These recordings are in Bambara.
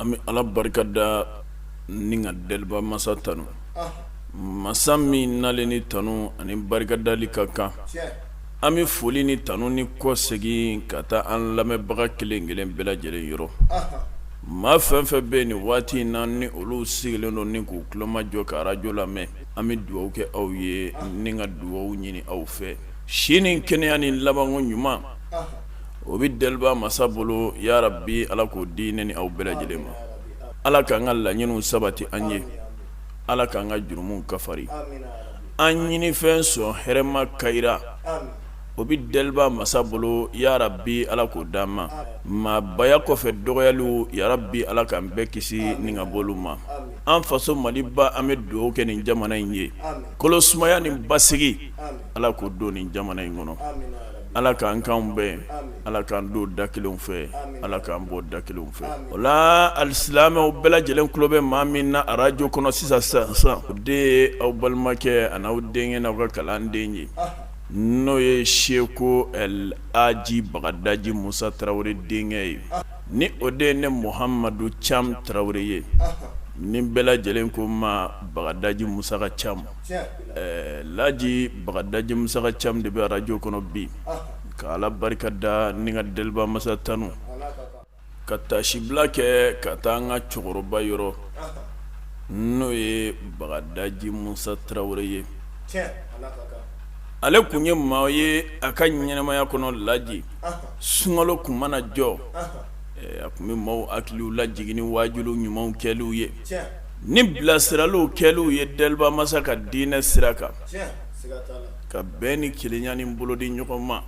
An bɛ ala barika da ni ka deliba masa tanun masa min n'ale ni tanun ani barika dali ka kan an bɛ foli ni tanunni kɔsegin ka taa an lamɛnbaga kelen kelen bɛɛ lajɛlen yɔrɔ maa fɛn fɛn bɛ yen nin waati in na ni olu sigilen don ni k'u kulomajɔ ka arajo lamɛn an bɛ dugawu kɛ aw ye ni ka dugawu ɲini aw fɛ si ni kɛnɛya ni labanko ɲuman o bɛ deliba masa bolo yarabi ala k'o di ne ni aw bɛɛ lajɛlen ma ala k'an ka laɲiniw sabati an ye ala k'an ka jurumuw kafari an ɲinifɛn sɔn hɛrɛma kayira o bɛ deliba masa bolo yarabi ala k'o d'an ma maabaya kɔfɛ dɔgɔyaliw yarabi ala k'an bɛɛ kisi ni ka b'olu ma an faso maliba an bɛ dugawu kɛ nin jamana in ye kolosumaya ni basigi ala k'o don nin jamana in kɔnɔ ala k'an kan bɛn ala k'an don da kelen fɛ ala k'an bɔ da kelen fɛ o la alisilamɛw bɛɛ lajɛlen tulo bɛ maa min na arajo kɔnɔ sisan sisan o de ye aw balimakɛ ani aw denkɛ n'aw ka kalanden ye n'o ye seko laji bagadaji musa tarawele denkɛ ye ni o de ye ne muhamadu cam tarawele ye ni bɛɛ lajɛlen ko ma bagadaji musa ka cam Laji bagadaji musa ka cam de bɛ arajo kɔnɔ bi ka ala barika da ni ka deliba masa tanun ka taasibila kɛ ka taa an ka cɛkɔrɔba yɔrɔ n'o ye bagadaji musa tarawele ye ale tun ye maa ye a ka ɲɛnamaya kɔnɔ laji sunkalo tun mana jɔ a tun bɛ maaw hakiliw lajigin ni waajuli ɲumanw kɛliw ye ni bilasiraliw kɛliw ye deliba masa ka diinɛ sira kan ka bɛn ni kelenya ni bolo di ɲɔgɔn ma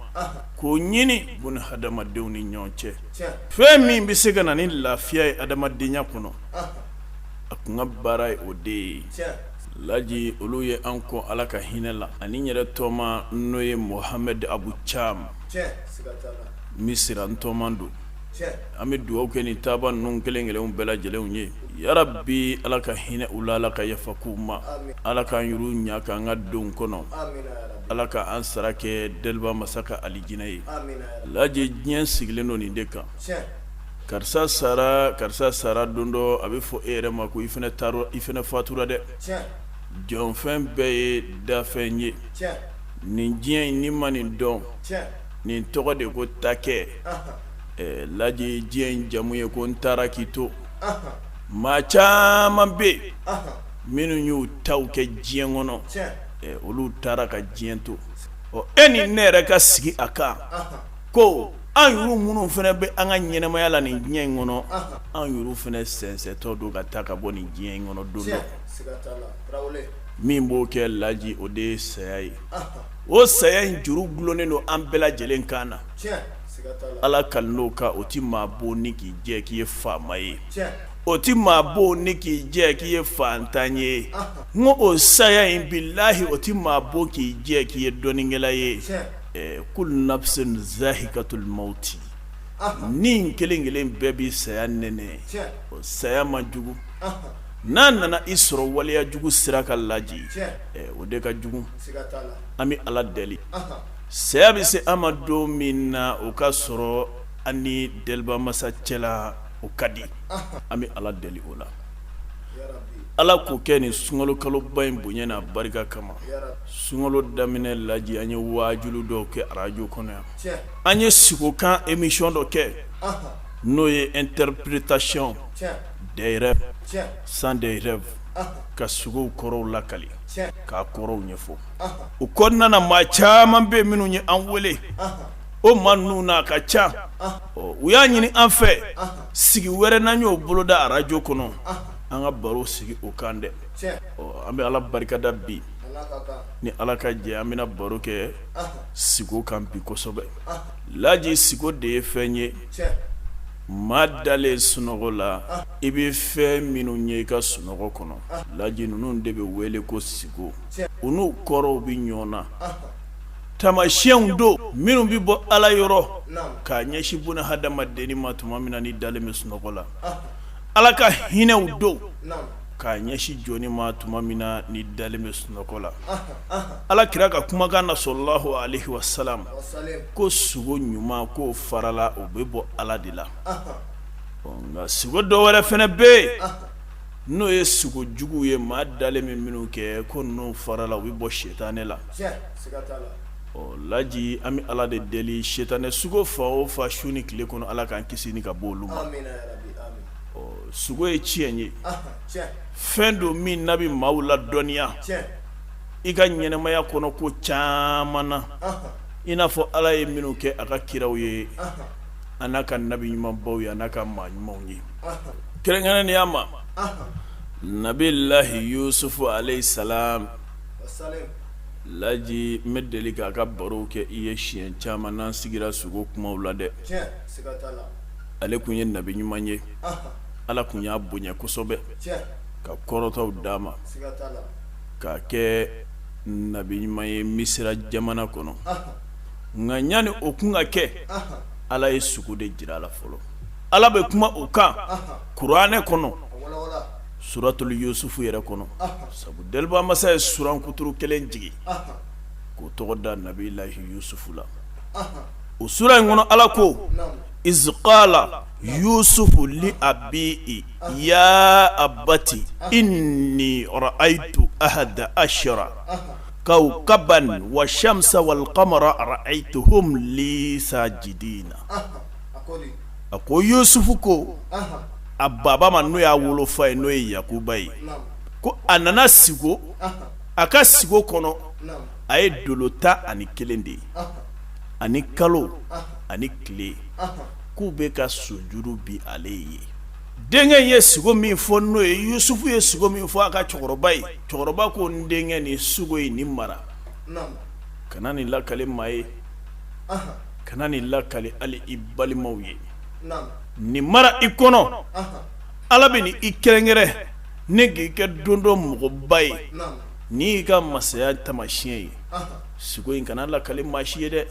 k'o ɲini buni hadamadenw ni ɲɔgɔn cɛ fɛn min bɛ se ka na ni lafiya ye adamadenya kɔnɔ a tun ka baara ye o de ye laji olu ye an kɔn ala ka hinɛ la ani n yɛrɛ tɔma n'o ye muhamɛd abu cam misira n tɔma don an bɛ dugawu kɛ nin taabaa ninnu kelen kelenw bɛɛ lajɛlenw ye yarabi ala ka hinɛ u la ala ka yafa k'u ma ala k'an yɔrɔ ɲa ka an ka don kɔnɔ ala ka an sara kɛ deliba masa ka alijinɛ ye laji diɲɛ sigilen don nin de kan karisa sara karisa sara don dɔ a bɛ fɔ e yɛrɛ ma ko i fana fatura dɛ jɔfɛn bɛɛ ye dafɛn ye nin diɲɛ in n'i ma nin dɔn nin tɔgɔ de ko takɛ laji diɲɛ in jamu ye ko n taara k'i to maa caman bɛ yen minnu y'u taw kɛ diɲɛ kɔnɔ olu taara ka diɲɛ to ɔ e ni ne yɛrɛ ka sigi a kan ko an yuru minnu fana bɛ an ka ɲɛnamaya la nin diɲɛ in kɔnɔ an yuru fana sɛnsɛntɔ don ka taa ka bɔ nin diɲɛ in kɔnɔ don dɔ min b'o kɛ laji o de ye saya ye o saya in juru dulonnen don an bɛɛ lajɛlen kan na Ala kali n'o ka o tɛ maa bon ni k'i jɛ k'i ye faama ye o tɛ maa bon ni k'i jɛ k'i ye fantan ye n ko o saya in bilahi o tɛ maa bon k'i jɛ k'i ye dɔnnikɛla ye kullu nafsin zaikatul mawti ni kelen kelen bɛɛ bɛ saya nɛnɛ o saya man jugu n'a nana i sɔrɔ waleyajugu sira kan laji o de ka jugu an bɛ ala deli Saya bɛ se an ma don min na o ka sɔrɔ an ni delibamasa cɛ la o ka di an bɛ ala deli o la ala k'o kɛ nin sunkalo kaloba in bonya n'a barika kama sunkalo daminɛ laji an ye waajuli dɔw kɛ arajo kɔnɔ yan an ye sugo kan émission dɔ kɛ n'o ye interprétation des rêves sens des rêves ka sugow kɔrɔw lakali k'a kɔrɔw ɲɛfɔ o kɔnɔna na maa caman bɛ minnu ye an wele o maa ninnu na a ka ca u y'a ɲini an fɛ sigi wɛrɛ n'an y'o boloda arajo kɔnɔ an ka baro sigi o kan dɛ an bɛ ala barikada bi ni ala ka jɛ an bɛna baro kɛ sigo kan bi kosɛbɛ laji sigo de ye fɛn ye maa dalen sunɔgɔ la i bɛ fɛn minnu ye i ka sunɔgɔ kɔnɔ laji ninnu de bɛ wele ko sigo u n'u kɔrɔw bɛ ɲɔgɔn na tamasiyɛnw don minnu bɛ bɔ ala yɔrɔ k'a ɲɛsin buna hadamadennin ma tuma min na n'i dalen bɛ sunɔgɔ la ala ka hinɛw don k'a ɲɛsin jɔnnin ma tuma min na n'i dalen bɛ sunɔgɔ la ala kira ka kumakan na sallallahu alaihi wasallam ko sugo ɲuman k'o farala o bɛ bɔ ala de la nka sugo dɔ wɛrɛ fana bɛ yen n'o ye sugo jugu ye maa dalen bɛ minnu kɛ ko ninnu farala u bɛ bɔ sitanɛ la laji an bɛ ala de deli sitanɛ sugo fa o fa su ni tile kɔnɔ ala k'an kisi ni ka bɔ olu ma sugo ye tiɲɛ ye fɛn don min n'a bɛ maa ladɔnniya i ka ɲɛnamaya kɔnɔ ko caman na i n'a fɔ ala ye minnu kɛ a ka kiraw ye a n'a ka nabi ɲumanbaw ye a n'a ka maa ɲumanw ye kɛrɛnkɛrɛnnenya ma nabilahi yusufu alayhi salam laji n bɛ deli k'a ka barow kɛ i ye siɲɛ caman n'an sigira sugo kumaw la dɛ ale kun ye nabi ɲuman ye ala kun y'a bonya kosɛbɛ ka kɔrɔtaw d'a ma k'a kɛ nabi ɲuman ye misira jamana kɔnɔ nka ɲani o kun ka kɛ ala ye sugo de jira a la fɔlɔ ala bɛ kuma o kan kuranɛ kɔnɔ suratul yusufu yɛrɛ kɔnɔ sabu deliba masa ye suran kuturu kelen jigin k'o tɔgɔ da nabilahi yusufu la o suran in kɔnɔ ala ko iz qala yusufu li abihi ya abati inni ra'aytu ahada ashara kawkaban wa shamsa wal qamara ra'aytuhum li sajidina a ko yusufu ko a baba ma n'o y'a wolofa ye n'o ye yakuba ye ko a nana sigo a ka sigo kɔnɔ a ye dolo tan ani kelen de ye ani kalo ani tile k'u bɛ ka sujuru bi ale ye denkɛ ye sugo min fɔ n'o ye yusufu ye sugo min fɔ a ka cɛkɔrɔba ye cɛkɔrɔba ko n denkɛ ni sugo ye ni mara kana ni lakale maa ye kana ni lakale ali i balimaw ye ni mara i kɔnɔ ala bɛ n'i kɛrɛnkɛrɛn ne k'i kɛ don dɔ mɔgɔba ye ni y'i ka masaya tamasiɲɛ ye sugo in kana lakale maa si ye dɛ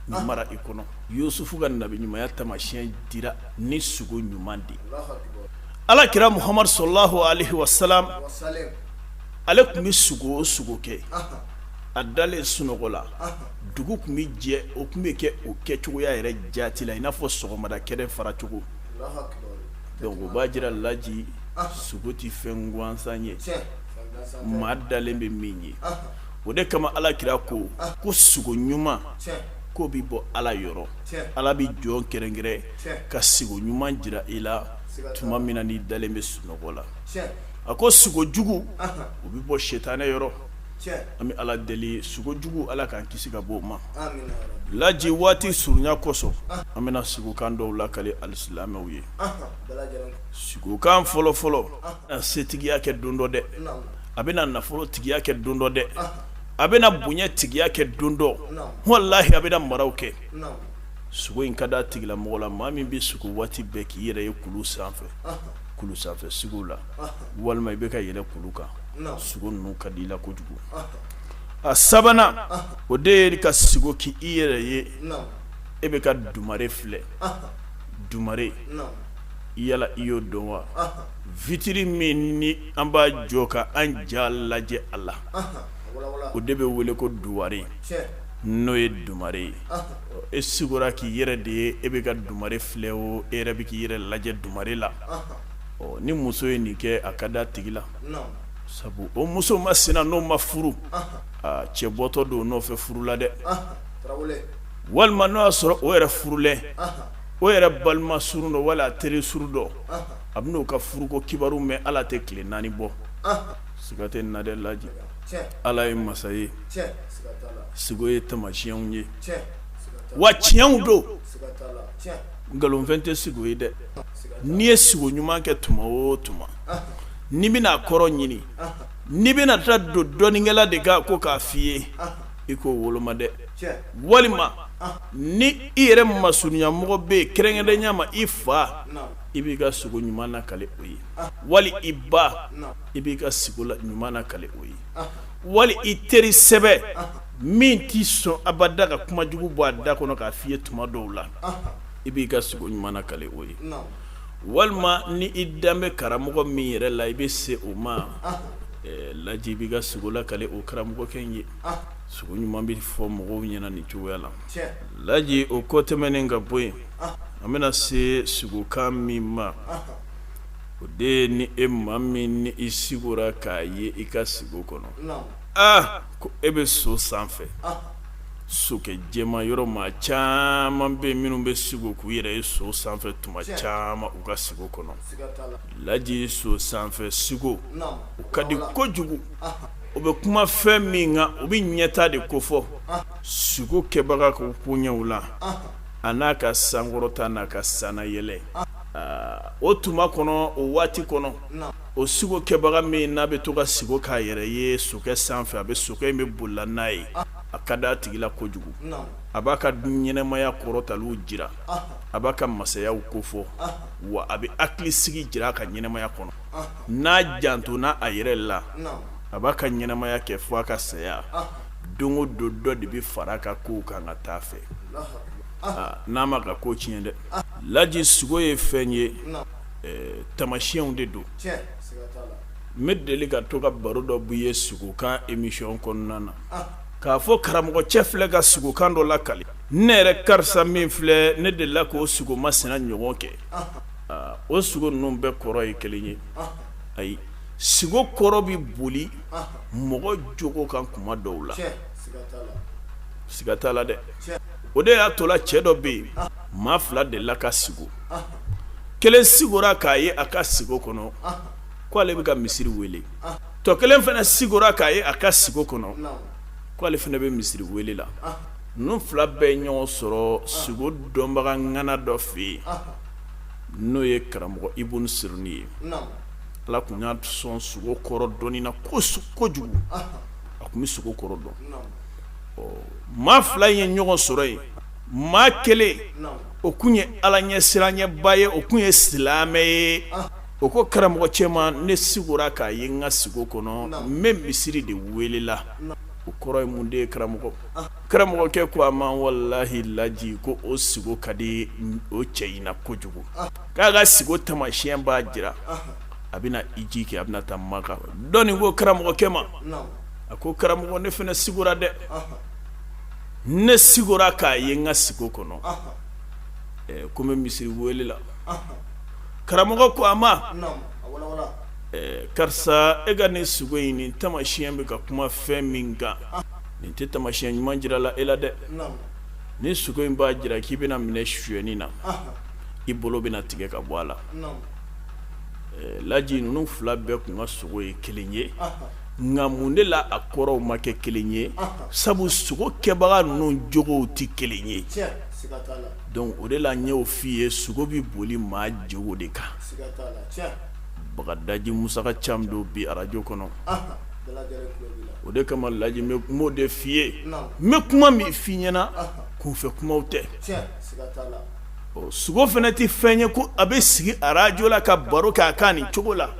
ni mara i kɔnɔ yusufu ka nabi ɲumanya tamasiɲɛ dira ni sugo ɲuman de ala kira muhamadu salalahu alayhi wa salam ale tun bɛ sugo o sugo kɛ a dalen sunɔgɔ la dugu tun bɛ jɛ o tun bɛ kɛ o kɛ cogoya yɛrɛ jaati la i n'a fɔ sɔgɔmada kɛnɛ faracogo donc o b'a jira laji sugo tɛ fɛn gansan ye maa dalen bɛ min ye o de kama ala kira ko ko sugo ɲuman k'o bɛ bɔ ala yɔrɔ ala bɛ jɔn kɛrɛnkɛrɛn ka sugo ɲuman jira i la tuma min na n'i dalen bɛ sunɔgɔ la a ko sugo jugu o bɛ bɔ setanɛ yɔrɔ an bɛ ala deli sugo jugu ala k'an kisi ka bɔ o ma laji waati surunya kosɔn an bɛna sigokan dɔw lakale alisilamɛw ye sigokan fɔlɔfɔlɔ a setigiya kɛ don dɔ dɛ a bɛna nafolo tigiya kɛ don dɔ dɛ a bɛna bonya tigiya kɛ don dɔ walayi a bɛna maraw kɛ sugo in ka d'a tigi la mɔgɔ la maa min bɛ sugo waati bɛɛ k'i yɛrɛ ye kulu sanfɛ kulu sanfɛ sigo la walima i bɛ ka yɛlɛ kulu kan sugo ninnu ka di i la kojugu a sabanan o de ye ka sigo k'i yɛrɛ ye e bɛ ka dumare filɛ dumare yala i y'o dɔn wa vitiri min ni an b'a jɔ ka an ja lajɛ a la o de bɛ wele ko duware n'o ye dumare ye e sigora k'i yɛrɛ de ye e bɛ ka dumare filɛ o e yɛrɛ bɛ k'i yɛrɛ lajɛ dumare la ɔ ni muso ye nin kɛ a ka d'a tigi la sabu o muso masina n'o ma furu aa cɛ bɔtɔ don o nɔfɛ furu la dɛ walima n'o y'a sɔrɔ o yɛrɛ furulɛ o yɛrɛ balima surun dɔ wala teri surun dɔ a bɛn'o ka furuko kibaru mɛn ala tɛ tile naani bɔ siga tɛ nin na dɛ laji ala ye masa ye sigo ye tamasiyɛnw ye wa tiɲɛw don nkalonfɛn tɛ sigo ye dɛ n'i ye sigo ɲuman kɛ tuma o tuma n'i bɛna a kɔrɔ ɲini n'i bɛna taa don dɔnnikɛla de kan ko k'a f'i ye i k'o woloma dɛ walima ni i yɛrɛ masurunyamɔgɔ bɛ yen kɛrɛnkɛrɛnya ma i fa i b'i ka sugo ɲuman nakale o ye wali i ba i b'i ka sigo ɲuman nakale o ye wali i teri sɛbɛ min tɛ sɔn abada ka kuma jugu bɔ a da kɔnɔ k'a f'i ye tuma dɔw la i b'i ka sugo ɲuman nakale o ye walima ni i dan bɛ karamɔgɔ min yɛrɛ la i bɛ se o ma laji i b'i ka sigo lakale o karamɔgɔkɛ in ye sugo ɲuman bɛ fɔ mɔgɔw ɲɛna nin cogoya la laji o kɔ tɛmɛnen ka bɔ yen an bɛna se sigokan min ma o de ye ni e maa min ni i sigora k'a ye i ka sigo kɔnɔ aa ko e bɛ so sanfɛ sokɛ jɛma yɔrɔ maa caman bɛ minnu bɛ sigo k'u yɛrɛ ye so sanfɛ tuma caman u ka sigo kɔnɔ laji so sanfɛ sigo o ka di kojugu o bɛ kuma fɛn min kan o bɛ ɲɛtaa de kofɔ sigo kɛbaga ka koɲɛw la a n'a ka sankɔrɔta n'a ka sannayɛlɛ o tuma kɔnɔ o waati kɔnɔ o sigo kɛbaga min n'a bɛ to ka sigo k'a yɛrɛ ye sokɛ sanfɛ a bɛ sokɛ in bɛ boli la n'a ye a ka d'a tigi la kojugu a b'a ka ɲɛnɛmaya kɔrɔtaliw jira a b'a ka masayaw kofɔ wa a bɛ hakilisigi jira a ka ɲɛnɛmaya kɔnɔ n'a jantona a yɛrɛ la a b'a ka ɲɛnɛmaya kɛ fo a ka saya don o don dɔ de bɛ fara a ka kow kan ka t'a fɛ n'a m'a ka ko tiɲɛ dɛ laji sigo ye fɛn ye tamasiyɛnw de don n bɛ deli ka to ka baro dɔ b'i ye sugokan émission kɔnɔna na k'a fɔ karamɔgɔ cɛ filɛ ka sugokan dɔ lakali ne yɛrɛ karisa min filɛ ne delila k' o sugo masina ɲɔgɔn kɛ o sugo ninnu bɛɛ kɔrɔ ye kelen ye ayi sugo kɔrɔ bɛ boli mɔgɔ jogo kan kuma dɔw la siga t'a la dɛ o de y'a tola cɛ dɔ bɛ yen maa fila delila ka sigo kelen sigora k'a ye a ka sigo kɔnɔ k' ale bɛ ka misiri weele tɔ kelen fana sigora k'a ye a ka sigo kɔnɔ k' ale fana bɛ misiri weele la ninnu fila bɛɛ ye ɲɔgɔn sɔrɔ sugo dɔnbaga ŋana dɔ fɛ yen n'o ye karamɔgɔ Ibunu Sirini ye ala kun y'a sɔn sugo kɔrɔ dɔnni na kojugu a kun bɛ sugo kɔrɔ dɔn ɔ maa fila ye ɲɔgɔn sɔrɔ yen maa kelen o kun ye ala ɲɛsiranɲɛba ye o kun ye silamɛ ye o ko karamɔgɔ cɛ ma ne sigora k'a ye n ka sigo kɔnɔ n bɛ misiri de welela o kɔrɔ ye mun de ye karamɔgɔ karamɔgɔkɛ ko a ma walahi laji ko o sigo ka di o cɛ in na kojugu k'a ka sigo tamasiyɛn b'a jira a bɛna hiji kɛ a bɛna taa makan dɔ nin ko karamɔgɔkɛ ma a ko karamɔgɔ ne fana sigora dɛ ne sigora k'a ye n ka sigo kɔnɔ ko n bɛ misiri wele la karamɔgɔ ko a ma karisa e ka nin sugo in nin tamasiyɛn bɛ ka kuma fɛn min kan nin tɛ tamasiyɛn ɲuman jira la e la dɛ nin sugo in b'a jira k'i bɛna minɛ sonyɛni na i bolo bɛna tigɛ ka bɔ a la laji ninnu fila bɛɛ kun ka sugo ye kelen ye nka mun de la a kɔrɔw ma kɛ kelen ye sabu sugokɛbaga ninnu jogow tɛ kelen ye donc o de la n y'o f'i ye sugo bɛ boli maa jogo de kan bagadaji musaka caman don bi arajo kɔnɔ o de kama Laji n b'o de f'i ye n bɛ kuma min f'i ɲɛna kunfɛ kumaw tɛ ɔ sugo fana tɛ fɛn ye ko a bɛ sigi arajo la ka baro kɛ a kan nin cogo la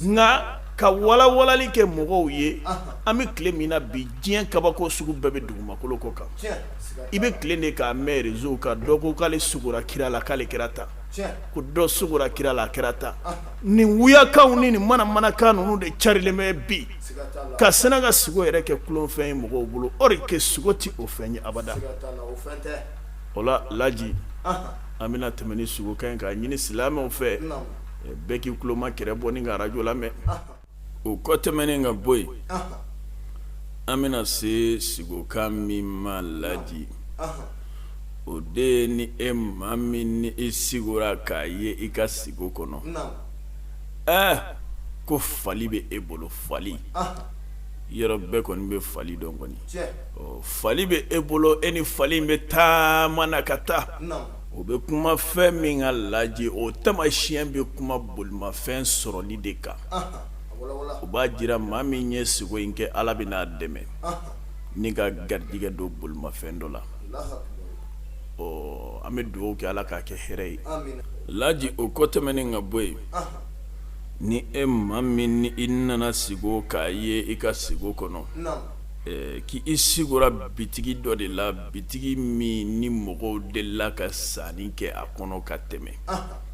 nka ka walawalali kɛ mɔgɔw ye an bɛ tile min na bi diɲɛ kabako sugu bɛɛ bɛ dugumakolo kɔ kan i bɛ tile de k'a mɛn réseau kan dɔ ko k'ale sugora kira la k'ale kɛra tan ko dɔ sugora kira la a kɛra tan nin wuyakanw ni nin manamanakan ninnu de carilen bɛ bi ka sɛnɛ ka sugo yɛrɛ kɛ kolonfɛn ye mɔgɔw bolo or que sugo tɛ o fɛn ye abada o la laji an bɛna tɛmɛ ni sugokan ye k'a ɲini silamɛw fɛ bɛɛ k'i tuloma kɛrɛ bɔ ni ka arajo lamɛn o kɔ tɛmɛnen ka bɔ yen an bɛna se sigokan min ma laji o de ye ni e maa min ni i sigora k'a ye i ka sigo kɔnɔ ɛ ko fali bɛ e bolo fali yɔrɔ bɛɛ kɔni bɛ fali dɔn kɔni fali bɛ e bolo e ni fali in bɛ taama na ka taa o bɛ kuma fɛn min kan laji o tamasiyɛn bɛ kuma bolimafɛn sɔrɔli de kan o b'a jira maa min ye sigo in kɛ ala bɛn'a dɛmɛ ni ka garijɛgɛ don bolimafɛn dɔ la ɔ an bɛ dugawu kɛ ala k'a kɛ hɛrɛ ye laji o kɔ tɛmɛnen ka bɔ yen ni e maa min ni i nana sigo k'a ye i ka sigo kɔnɔ K'i sigora bitigi dɔ de la bitigi min ni mɔgɔw delila ka sanni kɛ a kɔnɔ ka tɛmɛ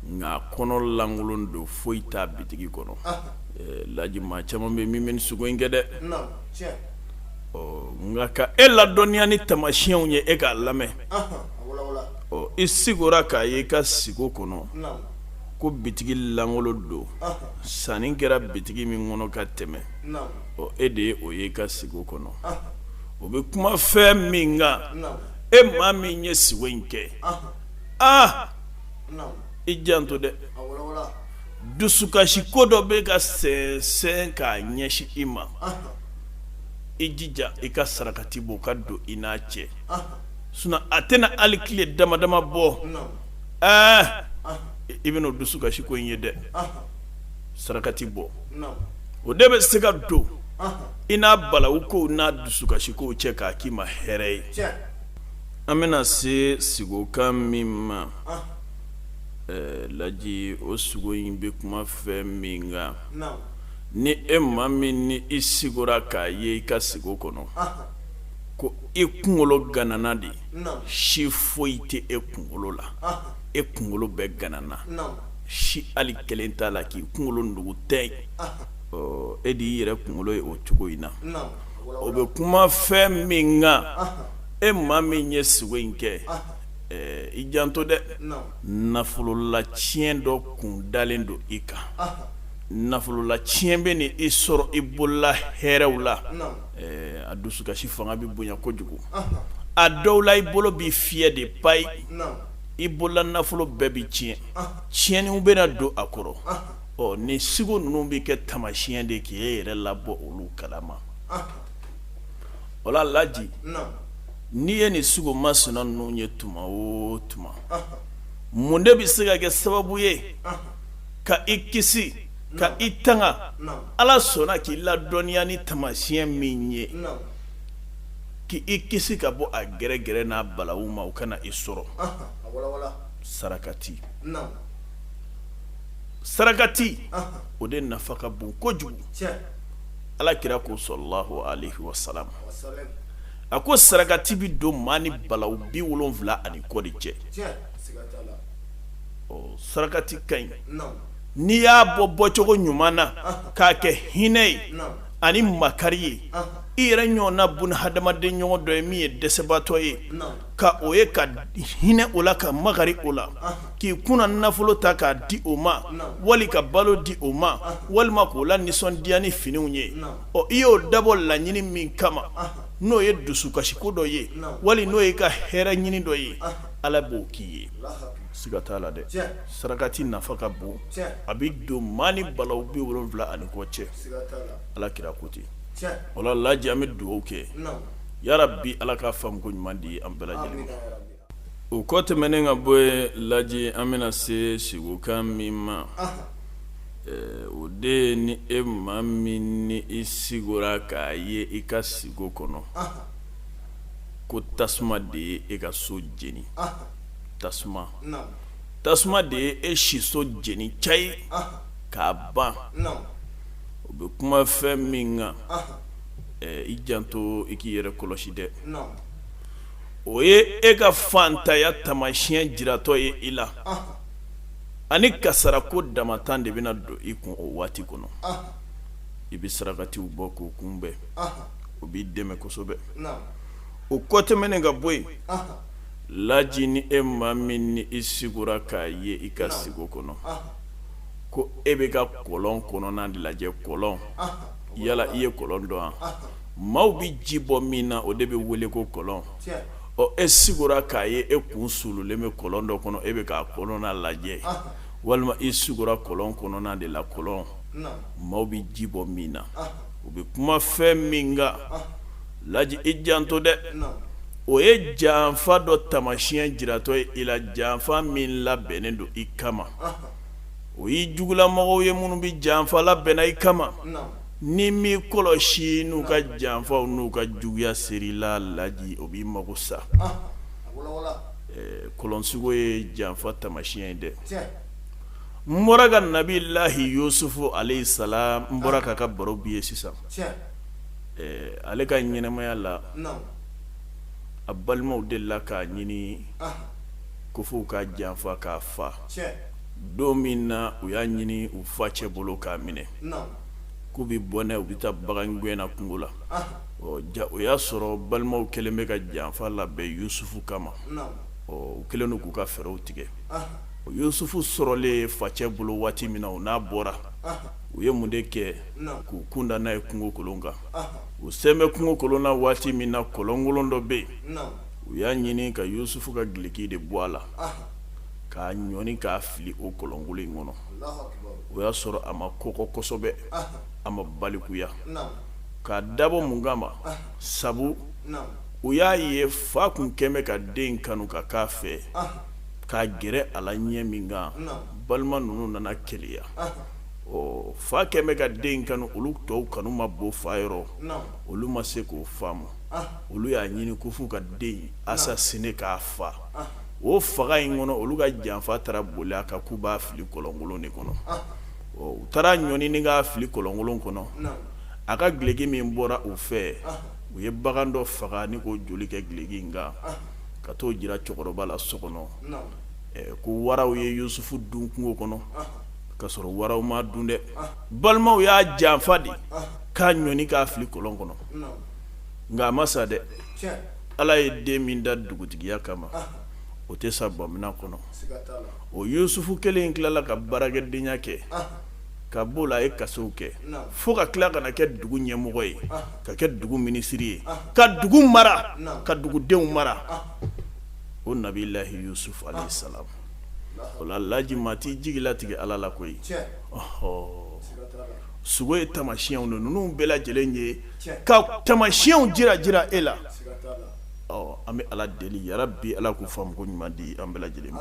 nka a kɔnɔ lankolon don foyi t'a bitigi kɔnɔ laji maa caman bɛ min bɛ sigo in kɛ dɛ ɔ nka ka e ladɔnniya ni tamasiyɛnw ye e k'a lamɛn ɔ i sigora k'a ye i ka sigo kɔnɔ ko bitigi lankolon don sanni kɛra bitigi min kɔnɔ ka tɛmɛ ɔ e de ye o ye i ka sigo kɔnɔ o bɛ kuma fɛn min kan e maa min ye sigo in kɛ aa i janto dɛ dusukasi ko dɔ bɛ ka sɛnsɛn k'a ɲɛsin i ma i jija i ka sarakati bɔ ka don i n'a cɛ sinon a tɛna hali tile dama dama bɔ ɛɛ i bɛna o dusukasi ko in ye dɛ sarakati bɔ o de bɛ se ka don i n'a balawu kow n'a dusukasi kow cɛ k'a k'i ma hɛrɛ ye an bɛna se sigokan min ma laji o sigo in bɛ kuma fɛn min kan ni e maa min ni i sigora k'a ye i ka sigo kɔnɔ ko e kunkolo ganana de si foyi tɛ e kunkolo la e kunkolo bɛɛ ganana si hali kelen t'a la k'i kunkolo nugu tɛ ye e de y'i yɛrɛ kunkolo ye o cogo in na o bɛ kuma fɛn min kan e maa min ye sigo in kɛ i janto dɛ nafolola tiɲɛ dɔ kun dalen don i kan nafolola tiɲɛ bɛna i sɔrɔ i bolola hɛrɛw la a dusukasi fanga bɛ bonya kojugu a dɔw la i bolo bɛ fiyɛ de payi i bolola nafolo bɛɛ bɛ tiɲɛ tiɲɛninw bɛna don a kɔrɔ ɔ nin sigo ninnu bɛ kɛ tamasiɲɛ de k'i ye yɛrɛ labɔ olu kalama o la laji n'i ye nin sigo masina ninnu ye tuma o tuma mun de bɛ se ka kɛ sababu ye ka i kisi ka i tanga ala sɔnna k'i ladɔnniya ni tamasiɲɛ min ye k' i kisi ka bɔ a gɛrɛgɛrɛ n'a balawu ma o kana i sɔrɔ sarakati sarakati o de nafa ka bon kojugu ala kira ko sallallahu alaihi wasallam a ko sarakati bɛ don maa ni balawu bi wolonwula ani kɔ de cɛ ɔ sarakati ka ɲi n'i y'a bɔ bɔcogo ɲuman na k'a kɛ hinɛ ye ani makari ye i yɛrɛ ɲɔgɔnna buna hadamaden ɲɔgɔn dɔ ye min ye dɛsɛbaatɔ ye ka o ye ka hinɛ o la ka makari o la k'i kunna nafolo ta k'a di o ma wali ka balo di o ma walima k'o lanisɔndiya ni finiw ye ɔ i y'o dabɔ laɲini min kama n'o ye dusukasiko dɔ ye wali n'o ye ka hɛrɛ ɲini dɔ ye ala b'o k'i ye siga t'a la dɛ sarakati nafa ka bon a bɛ don maa ni balawu bi wolonwula ani kɔ cɛ ala kira ko ten o la laji an bɛ dugawu kɛ yarabi ala ka faamuko ɲuman di an bɛɛ lajɛlen ma o kɔ tɛmɛnen ka bɔ yen laji an bɛna se sigokan min ma o de ni e maa min ni i sigora k'a ye i ka sigo kɔnɔ ko tasuma de ye e ka so jeni tasuma tasuma de ye e siso jeni cayi k'a ban o bɛ kuma fɛn min kan i janto i k'i yɛrɛ kɔlɔsi dɛ o ye e ka fantanya tamasiɲɛ jiratɔ ye i la ani kasara ko damatan de bɛna don i kun o waati kɔnɔ i bɛ sarakatiw bɔ k'o kunbɛn o b'i dɛmɛ kosɛbɛ o kɔ tɛmɛnen ka bɔ yen laji ni e maa min ni i sigora k'a ye i ka sigo kɔnɔ ko e bɛ ka kɔlɔn kɔnɔna de lajɛ kɔlɔn yala i ye kɔlɔn dɔn wa maaw bɛ ji bɔ min na o de bɛ wele ko kɔlɔn ɔ e sigora k'a ye e kun suululen bɛ kɔlɔn dɔ kɔnɔ e bɛ k'a kɔnɔna lajɛ walima i sigora kɔlɔn kɔnɔna de la kɔlɔn maaw bɛ ji bɔ min na o bɛ kuma fɛn min laji i janto dɛ o ye janfa dɔ tamasiɲɛ jiratɔ ye i la janfa min labɛnnen don i kama o y'i jugulamɔgɔw ye minnu bɛ janfa labɛnna i kama n'i m'i kɔlɔsi n'u ka janfaw n'u ka juguya ser'i la laji o b'i mago sa kɔlɔn sugo ye janfa tamasiɲɛ ye dɛ n bɔra ka nabilahi yusufu alayhi salam n bɔra k'a ka baro b'i ye sisan Ale ka ɲɛnamaya la a balimaw delila k'a ɲini ko f'u k'a janfa k'a fa don min na u y'a ɲini u fa cɛ bolo k'a minɛ k'u bɛ bɔ n'a ye u bɛ taa bagan gɛnna kungo la o y'a sɔrɔ balimaw kɛlen bɛ ka janfa labɛn yusufu kama u kɛlen don k'u ka fɛɛrɛw tigɛ o yusufu sɔrɔlen fa cɛ bolo waati min na u n'a bɔra u ye mun de kɛ k'u kunda n'a ye kungo kolon kan u sen bɛ kungo kolon na waati min na kɔlɔnkolon dɔ bɛ yen u y'a ɲini ka yusufu ka gileki de bɔ a la k'a ɲɔni k'a fili o kɔlɔnkolon in kɔnɔ o y'a sɔrɔ a ma kɔkɔ kosɛbɛ a ma balikuya k'a dabɔ mun kama sabu u y'a ye fa tun kɛlen bɛ ka den kanu ka k'a fɛ k'a gɛrɛ a la ɲɛ min kan balima ninnu nana keleya ɔ fa kɛlen bɛ ka den kanu olu tɔw kanu ma bon fa yɔrɔ olu ma se k'o faamu olu y'a ɲini ko f'u ka den assassiné k'a fa o faga in kɔnɔ olu ka janfa taara boli a kan k'u b'a fili kɔlɔnkolon de kɔnɔ ɔ u taar'a ɲɔni k'a fili kɔlɔnkolon kɔnɔ a ka gileki min bɔra u fɛ u ye bagan dɔ faga ni k'o joli kɛ gileki kan ka t'o jira cɛkɔrɔba la so kɔnɔ ko waraw ye yusufu dun kungo kɔnɔ ka sɔrɔ waraw m'a dun dɛ balimaw y'a janfa de k'a ɲɔni k'a fili kɔlɔn kɔnɔ nka a ma sa dɛ ala ye den min da dugutigiya kama o tɛ sa bamina kɔnɔ o yusufu kelen tilala ka baarakɛdenya kɛ ka b'o la a ye kasow kɛ fo ka tila ka na kɛ dugu ɲɛmɔgɔ ye ka kɛ dugu minisiri ye ka dugu mara ka dugudenw mara o nabilahi yusufu alayhi salam o la laji maa t'i jigi latigɛ ala la koyi ɔɔ sugo ye tamasiyɛnw de ninnu bɛɛ lajɛlen ye ka tamasiyɛnw jira jira e la an bɛ ala deli yarabi ala k'u faamuko ɲuman di an bɛɛ lajɛlen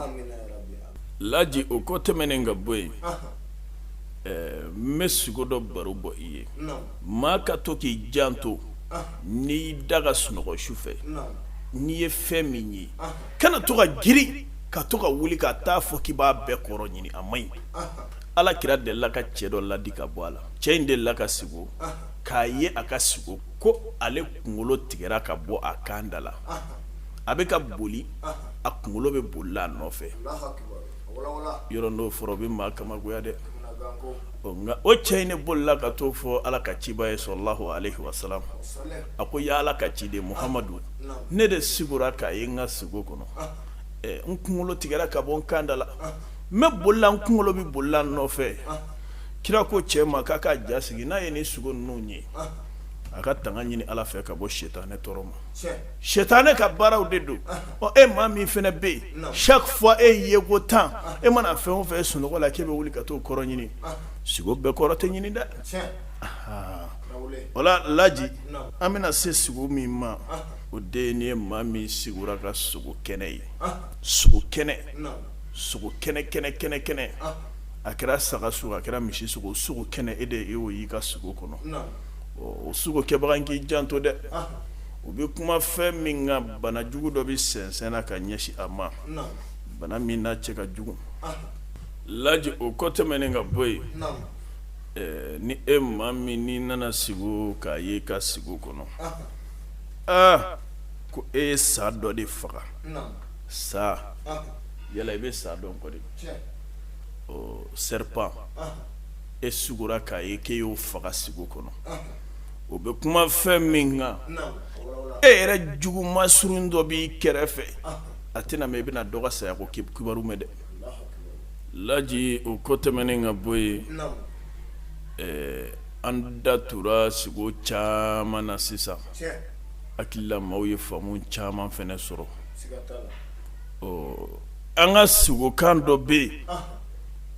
laji o kɔ tɛmɛnen ka bɔ yen n bɛ sugo dɔ baro bɔ i ye maa ka to k'i janto n'i da ka sunɔgɔ su fɛ n'i ye fɛn min ye kana to ka girin ka to ka wuli ka t'a fɔ k'i b'a bɛɛ kɔrɔ ɲini a man ɲi ala kira delila ka cɛ dɔ ladi ka bɔ a la cɛ in delila ka sigo k'a ye a ka sigo ko ale kunkolo tigɛra ka bɔ a kan da la a bɛ ka boli a kunkolo bɛ boli a nɔfɛ yɔrɔ n'o fɔra o bɛ maa kabakoya dɛ nka o cɛ in ne bolila ka t'o fɔ ala ka ciba ye sallallahu alaihi wasallam a ko yaa ala ka ciden muhamadu ne de sigura k'a ye n ka sigo kɔnɔ n kunkolo tigɛra ka bɔ n kanda la n bɛ bolila n kunkolo bɛ bolila n nɔfɛ kira ko cɛ ma k'a ka ja sigi n'a ye nin sugo ninnu ye a ka tanga ɲini ala fɛ ka bɔ sɛtanɛ tɔɔrɔ ma sɛtanɛ ka baaraw de don ɔ e maa min fɛnɛ bɛ yen chaque fois e ye ko tan e mana fɛn o fɛn ye sunɔgɔ la k'e bɛ wuli ka t'o kɔrɔ ɲini sigo bɛɛ kɔrɔ tɛ ɲini dɛ o la laji an bɛna se sigo min ma o de ye nin ye maa min sigura ka sogo kɛnɛ ye sogo kɛnɛ sogo kɛnɛ kɛnɛ kɛnɛ kɛnɛ a kɛra saga sogo a kɛra misi sogo sogo kɛnɛ e de y'o y'i ka sigo kɔnɔ o sugo kɛbaga in k'i janto dɛ o bɛ kuma fɛn min kan bana jugu dɔ bɛ sɛnsɛnna ka ɲɛsin a ma bana min n'a cɛ ka jugu laji o kɔ tɛmɛnen ka bɔ yen ni e maa min n'i nana sigo k'a ye ka sigo kɔnɔ aa ko e ye sa dɔ de faga sa yala i bɛ sa dɔn kɔ de serpent e sugora k'a ye k'e y'o faga sigo kɔnɔ o bɛ kuma fɛn min kan e yɛrɛ jugu masurun dɔ b'i kɛrɛfɛ a tɛna mɛɛn i bɛna dɔ ka saya ko kibaru mɛn dɛ laji o kɔ tɛmɛnen ka bɔ yen an da tora sigo caman na sisan hakili la maaw ye faamu caman fɛnɛ sɔrɔ ɔ an ka sigokan dɔ bɛ yen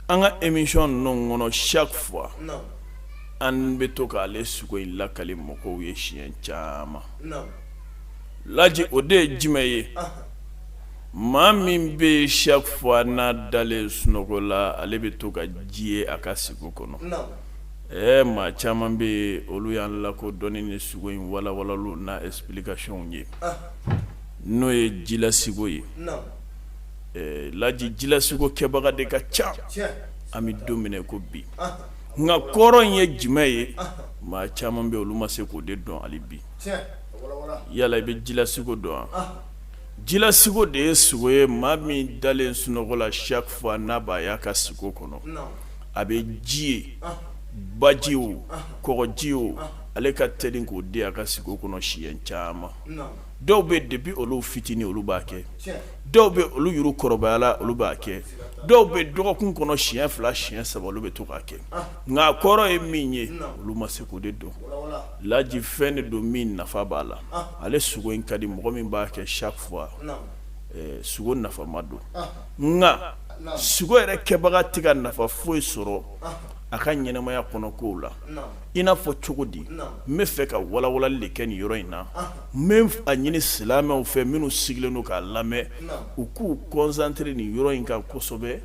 an ka émission ninnu kɔnɔ chaque fois an bɛ to k'ale sugo in lakali mɔgɔw ye siɲɛ caman laji o de ye jumɛn ye maa min bɛ chaque fois n'a dalen sunɔgɔ la ale bɛ to ka ji ye a ka sigo kɔnɔ ɛ maa caman bɛ yen olu y'an lakodɔn ni sugo in walawalali n'a explication ye n'o ye jila sigo ye laji jila sugo kɛbaga de ka ca an bɛ don min na ko bi nka kɔrɔ in ye jumɛn ye maa caman bɛ olu ma se k'o de dɔn hali bi yala i bɛ jila sugo dɔn wa jila sugo de ye sugo ye maa min dalen sunɔgɔ la chaque fois n'a b'a y'a ka sugo kɔnɔ a bɛ ji ye baji o kɔji o ale ka teli k'o de y'a ka sugo kɔnɔ siɲɛ caman dɔw bɛ depuis olu fitinin olu b'a kɛ dɔw bɛ olu yɛrɛ kɔrɔbayala olu b'a kɛ dɔw bɛ dɔgɔkun kɔnɔ siɲɛ fila siɲɛ saba olu bɛ to k'a kɛ nka a kɔrɔ ye min ye olu ma se k'o de dɔn laji fɛn de don min nafa b'a la ale sugo in ka di mɔgɔ min b'a kɛ chaque fois sugo nafama don nka sugo yɛrɛ kɛbaga tɛ ka nafa foyi sɔrɔ a ka ɲɛnamaya kɔnɔ kow la i n'a fɔ cogo di n bɛ fɛ ka walawalali de kɛ nin yɔrɔ in na n bɛ a ɲini silamɛw fɛ minnu sigilen don k'a lamɛn u k'u concentrer nin yɔrɔ in kan kosɛbɛ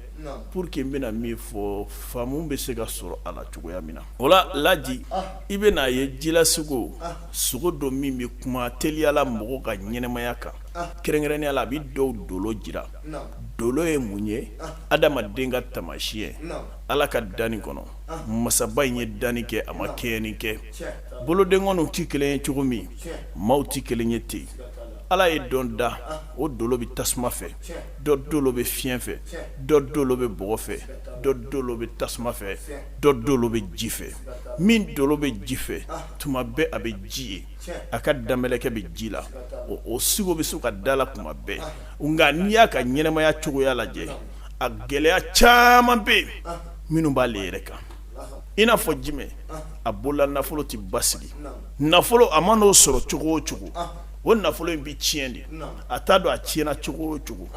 pour que n bɛna min fɔ faamu bɛ se ka sɔrɔ a la cogoya min na o la laji i bɛn'a ye jila sugo sugo dɔ min bɛ kuma teliyala mɔgɔ ka ɲɛnamaya kan kɛrɛnkɛrɛnnenya la a bɛ dɔw dolo jira dolo ye mun ye adamaden ka tamasiyɛn ala ka danni kɔnɔ masaba in ye danni kɛ a ma kɛɲɛni kɛ bolodenkɔniw tɛ kelen ye cogo min maaw tɛ kelen ye ten ala ye dɔ dan o dolo bɛ tasuma fɛ dɔ dolo bɛ fiɲɛ fɛ dɔ dolo bɛ bɔgɔ fɛ dɔ dolo bɛ tasuma fɛ dɔ dolo bɛ ji fɛ min dolo bɛ ji fɛ tuma bɛɛ a bɛ ji ye a ka danbɛlɛkɛ bɛ ji la o sugo bɛ se ka da la tuma bɛɛ nka n'i y'a ka ɲɛnamaya cogoya lajɛ a gɛlɛya caman bɛ yen minnu b'ale yɛrɛ kan i n'a fɔ jumɛn a bolola nafolo tɛ basigi nafolo a man'o sɔrɔ cogo o cogo o nafolo in bɛ tiɲɛ de a t'a dɔn a tiɲɛna cogo o cogo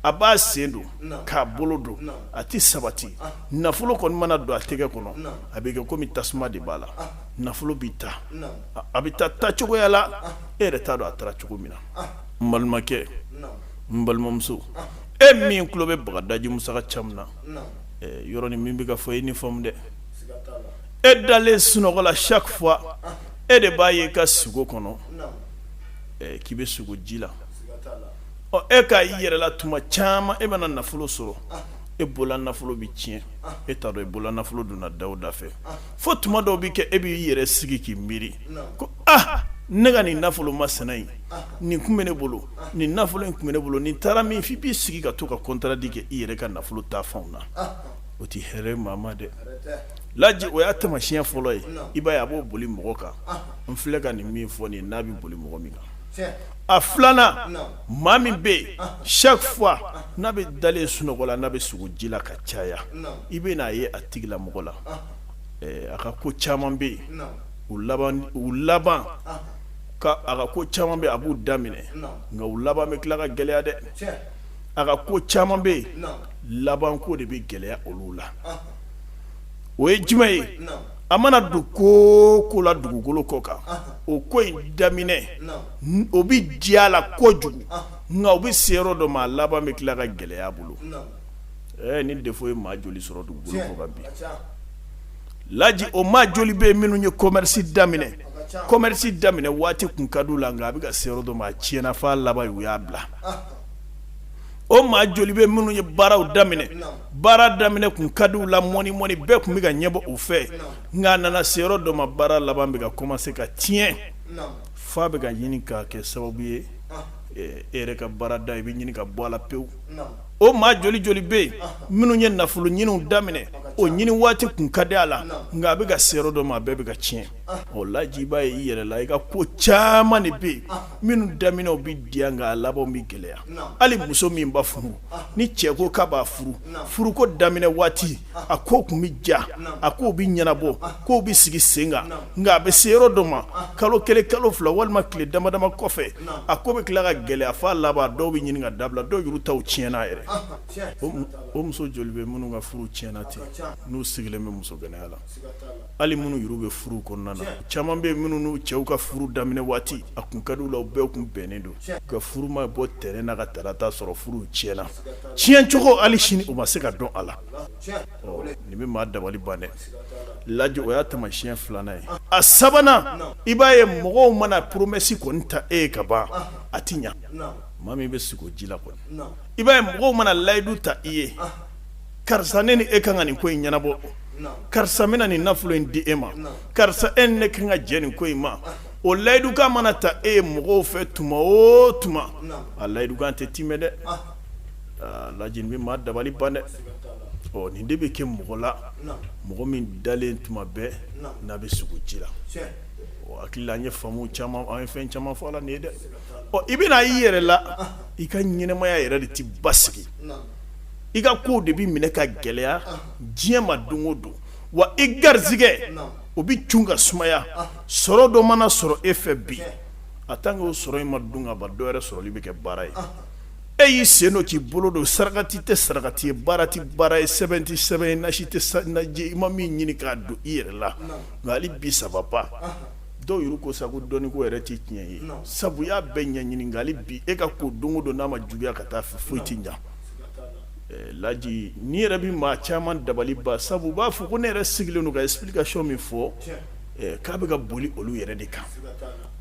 a b'a sen don k'a bolo don a tɛ sabati nafolo kɔni mana don a tɛgɛ kɔnɔ a bɛ kɛ komi tasuma de b'a la nafolo bɛ taa a bɛ taa taa cogoya la e yɛrɛ t'a dɔn a taara cogo min na n balimakɛ n balimamuso e min tulo bɛ bagadaji musa camu na yɔrɔnin min bɛ ka fɔ e ni faamu dɛ e dalen sunɔgɔ la chaque fois e de b'a ye ka sugo kɔnɔ k'i bɛ sugo ji la ɔ e ka i yɛrɛ la tuma caman e mana nafolo sɔrɔ e bolola nafolo bɛ tiɲɛ e t'a dɔn e bolola nafolo donna da o da fɛ fo tuma dɔw bɛ kɛ e b'i yɛrɛ sigi k'i miiri aa ne ka nin nafolo masina in nin tun bɛ ne bolo nin nafolo in tun bɛ ne bolo nin taara min f'i b'i sigi ka to ka kɔntadi kɛ i yɛrɛ ka nafolo ta fanw na o tɛ hɛrɛ maa ma dɛ laji o y'a taamasiyɛn fɔlɔ ye i b'a ye a b'o boli mɔgɔ kan n filɛ ka nin min fɔ nin n'a bɛ boli mɔgɔ min kan a filanan maa min bɛ yen chaque fois n'a bɛ dalen sunɔgɔ la n'a bɛ sugo ji la ka caya i bɛn'a ye a tigilamɔgɔ la a ka ko caman bɛ yen u u laban ka a ka ko caman bɛ a b'u daminɛ nka u laban bɛ tila ka gɛlɛya dɛ a ka ko caman bɛ yen labanko de bɛ gɛlɛya olu la o ye jumɛn ye a mana don ko o ko la dugukolo kɔ kan o ko in daminɛ o bɛ diya a la kojugu nka o bɛ se yɔrɔ dɔ ma a laban bɛ tila ka gɛlɛya bolo ɛ nin de ye maa joli sɔrɔ dugukolo kɔ kan bi laji o maa joli bɛ minnu ye commerce daminɛ commerce daminɛ waati kun ka di u la nka a bɛ ka se yɔrɔ dɔ ma a tiɲɛna f'a laban ye u y'a bila o maa joli bɛ minnu ye baaraw daminɛ baara daminɛ kun ka di u la mɔni mɔni bɛɛ kun bɛ ka ɲɛbɔ u fɛ nka a nana se yɔrɔ dɔ ma baara laban bɛ ka commencer ka tiɲɛ f'a bɛ ka ɲini ka kɛ sababu ye e yɛrɛ ka baarada i bɛ ɲini ka bɔ a la pewu. o maa joli joli bɛ yen minnu ye nafolo ɲiniw daminɛ o ɲini waati kun ka di a la nka a bɛ ka se yɔrɔ dɔ ma a bɛɛ bɛ ka tiɲɛ o laji i b'a ye i yɛrɛ la i ka ko caman de bɛ yen minnu daminɛw bɛ diya nka a laban bɛ gɛlɛya hali muso min ba furu ni cɛ ko k'a b'a furu furuko daminɛ waati a ko kun bɛ ja a ko bɛ ɲɛnabɔ ko bɛ sigi sen kan nka a bɛ se yɔrɔ dɔ ma kalo kelen kalo fila walima tile dama dama kɔfɛ a ko bɛ tila ka gɛlɛya f'a laban dɔw bɛ ɲini ka dabila dɔw yɛrɛ taw tiɲɛna yɛrɛ o muso joli bɛ minnu ka furu tiɲɛna ten n'u sigilen bɛ muso gananya la hali minnu yɛrɛ bɛ furu kɔnɔna na caman bɛ minnu n'u cɛw ka furu daminɛ waati a kun ka di u la u bɛɛ kun bɛnnen don nka furu ma bɔ tɛnɛn na ka tarata sɔrɔ furu tiɲɛna tiɲɛcogo hali sini u ma se ka dɔn a la nin bɛ maa dabali ban dɛ lajɛ o y'a taamasiyɛn filanan ye a sabanan i b'a ye mɔgɔw mana promesse kɔni ta e ye ka ban a tɛ ɲɛ maa min bɛ sugo ji la kɔni i b'a ye mɔgɔw mana layidu ta i ye karisa ne ni e ka kan ka nin ko in ɲɛnabɔ karisa bɛna nin nafolo in di e ma karisa e ni ne ka kan ka jɛ nin ko in ma o layidukan mana ta e ye mɔgɔw fɛ tuma o tuma a layidukan tɛ tiimɛ dɛ laji nin bɛ maa dabali ban dɛ ɔ nin de bɛ kɛ mɔgɔ la mɔgɔ min dalen tuma bɛɛ n'a bɛ sugo ji la hakili la an ye faamu caman an ye fɛn caman fɔ a la nin ye dɛ ɔ i bɛn'a ye i yɛrɛ la i ka ɲɛnɛmaya yɛrɛ de tɛ basigi i ka ko de bɛ minɛ ka gɛlɛya diɲɛ ma don o don wa i garijɛgɛ o bɛ cun ka sumaya sɔrɔ dɔ mana sɔrɔ e fɛ bi a tant que o sɔrɔ in ma dun ka ban dɔwɛrɛ sɔrɔli bɛ kɛ baara ye e y'i sen don k'i bolo don sarakati tɛ sarakati ye baara tɛ baara ye sɛbɛn tɛ sɛbɛn ye nasi tɛ nasi ye i ma min ɲini k'a don i yɛrɛ la nka hali bi ça va pas dɔw yɛrɛ ko sa ko dɔnniko yɛrɛ tɛ tiɲɛ ye sabu y'a bɛɛ ɲɛɲini nka hali bi e ka ko don o don n'a ma juguya ka taa fɛ foyi tɛ ɲɛ laji ne yɛrɛ bɛ maa caman dabali ban sabu u b'a fɔ ko ne yɛrɛ sigilen don ka explication min fɔ k'a bɛ ka boli olu yɛrɛ de kan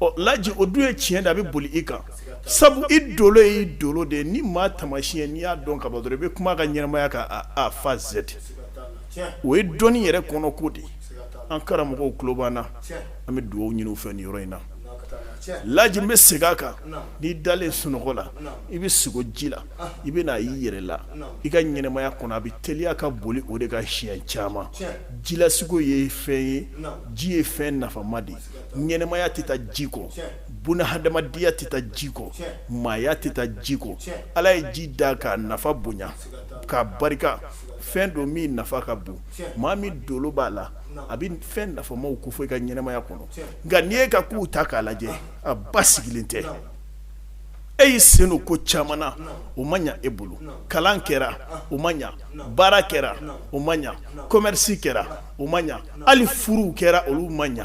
ɔ laji o dun ye tiɲɛ de a bɛ boli i kan sabu i dolo ye i dolo de ye nin maa taamasiyɛn n'i y'a dɔn ka ban dɔrɔn i bɛ kuma a ka ɲɛnamaya kan a fo z o ye dɔnni yɛrɛ kɔnɔ ko de ye an karamɔgɔw tulo b'an na an bɛ dugawu ɲini u fɛ nin yɔrɔ in na laji n bɛ segin a kan n'i dalen sunɔgɔ la i bɛ sigo ji la i bɛ na i yɛrɛ la i ka ɲɛnamaya kɔnɔ a bɛ teliya ka boli o de ka siɲɛ caman jilasigo ye fɛn ye ji ye fɛn nafama de ye ɲɛnamaya tɛ taa ji kɔ bunadamadenya tɛ taa ji kɔ maaya tɛ taa ji kɔ ala ye ji da k'a nafa bonya k'a barika fɛn don min nafa ka bon maa min dolo b'a la a bɛ fɛn nafamaw kofɔ i ka ɲɛnamaya kɔnɔ nka n'i y'e ka kow ta k'a lajɛ a basigilen tɛ e y'i sen don ko caman na o ma ɲɛ e bolo kalan kɛra o ma ɲɛ baara kɛra o ma ɲɛ kɔmɛrisi kɛra o ma ɲɛ hali furuw kɛra olu ma ɲɛ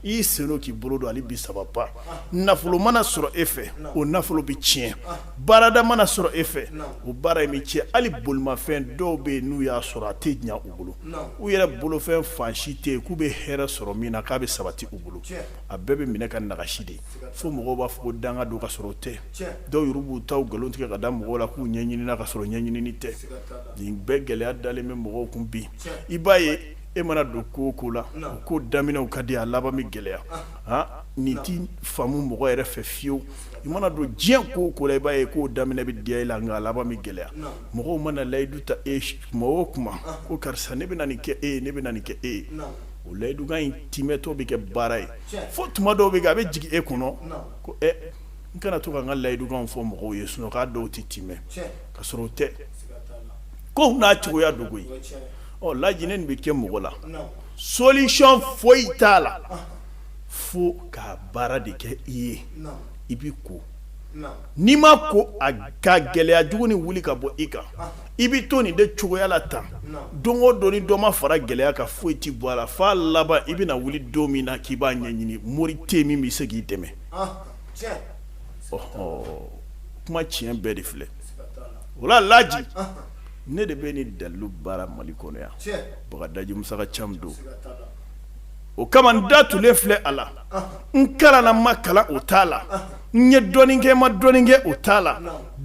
i y'i sen don k'i bolo don hali bi ça va pas nafolo mana sɔrɔ e fɛ o nafolo bɛ tiɲɛ baarada mana sɔrɔ e fɛ o baara in bɛ tiɲɛ hali bolimafɛn dɔw bɛ yen n'u y'a sɔrɔ a tɛ ɲɛ u bolo u yɛrɛ bolofɛn fan si tɛ yen k'u bɛ hɛrɛ sɔrɔ min na k'a bɛ sabati u bolo a bɛɛ bɛ minɛ ka nagasi de fo mɔgɔw b'a fɔ ko danga don ka sɔrɔ o tɛ dɔw yɛrɛ b'u taw nkalon tigɛ ka da mɔgɔw la k'u ɲɛɲinina ka sɔrɔ ɲɛɲinini tɛ nin bɛɛ gɛlɛya dalen bɛ mɔgɔw kun bi i b'a ye e mana don ko o ko la ko daminɛw ka di a laban bɛ gɛlɛya aa nin tɛ faamu mɔgɔ yɛrɛ fɛ fiyewu i mana don diɲɛ ko o ko la i b'a ye k'o daminɛ bɛ diya i la nka a laban bɛ gɛlɛya mɔgɔw mana layidu ta e tuma o tuma ko karisa ne bɛna nin kɛ e ye ne bɛna nin kɛ e ye o layidukan in timɛtɔ bɛ kɛ baara ye fo tuma dɔw bɛ kɛ a bɛ jigin e kɔnɔ ko ɛ n kana to ka n ka layidukan fɔ mɔgɔw ye sinon k'a dɔw tɛ timɛ ka sɔrɔ o tɛ ko n'a cogoya dogo ɔ laji nin bɛ kɛ mɔgɔ la solution foyi t'a la fo ka baara de kɛ i ye i b'i ko n'i ma ko a ka gɛlɛya jugu nin wuli ka bɔ i kan i bɛ to nin de cogoya la tan don o don ni dɔ ma fara gɛlɛya kan foyi tɛ bɔ a la f'a laban i bɛna wuli don min na k'i b'a ɲɛɲini mori tɛ min bɛ se k'i dɛmɛ kuma tiɲɛ bɛɛ de filɛ o la laji ne de bɛ nin dalilu baara mali kɔnɔ yan bagadaji musaka cam don o kama n da tunlen filɛ a la n kalanna n ma kalan o t'a la n ye dɔnni kɛ ma dɔnni kɛ o t'a la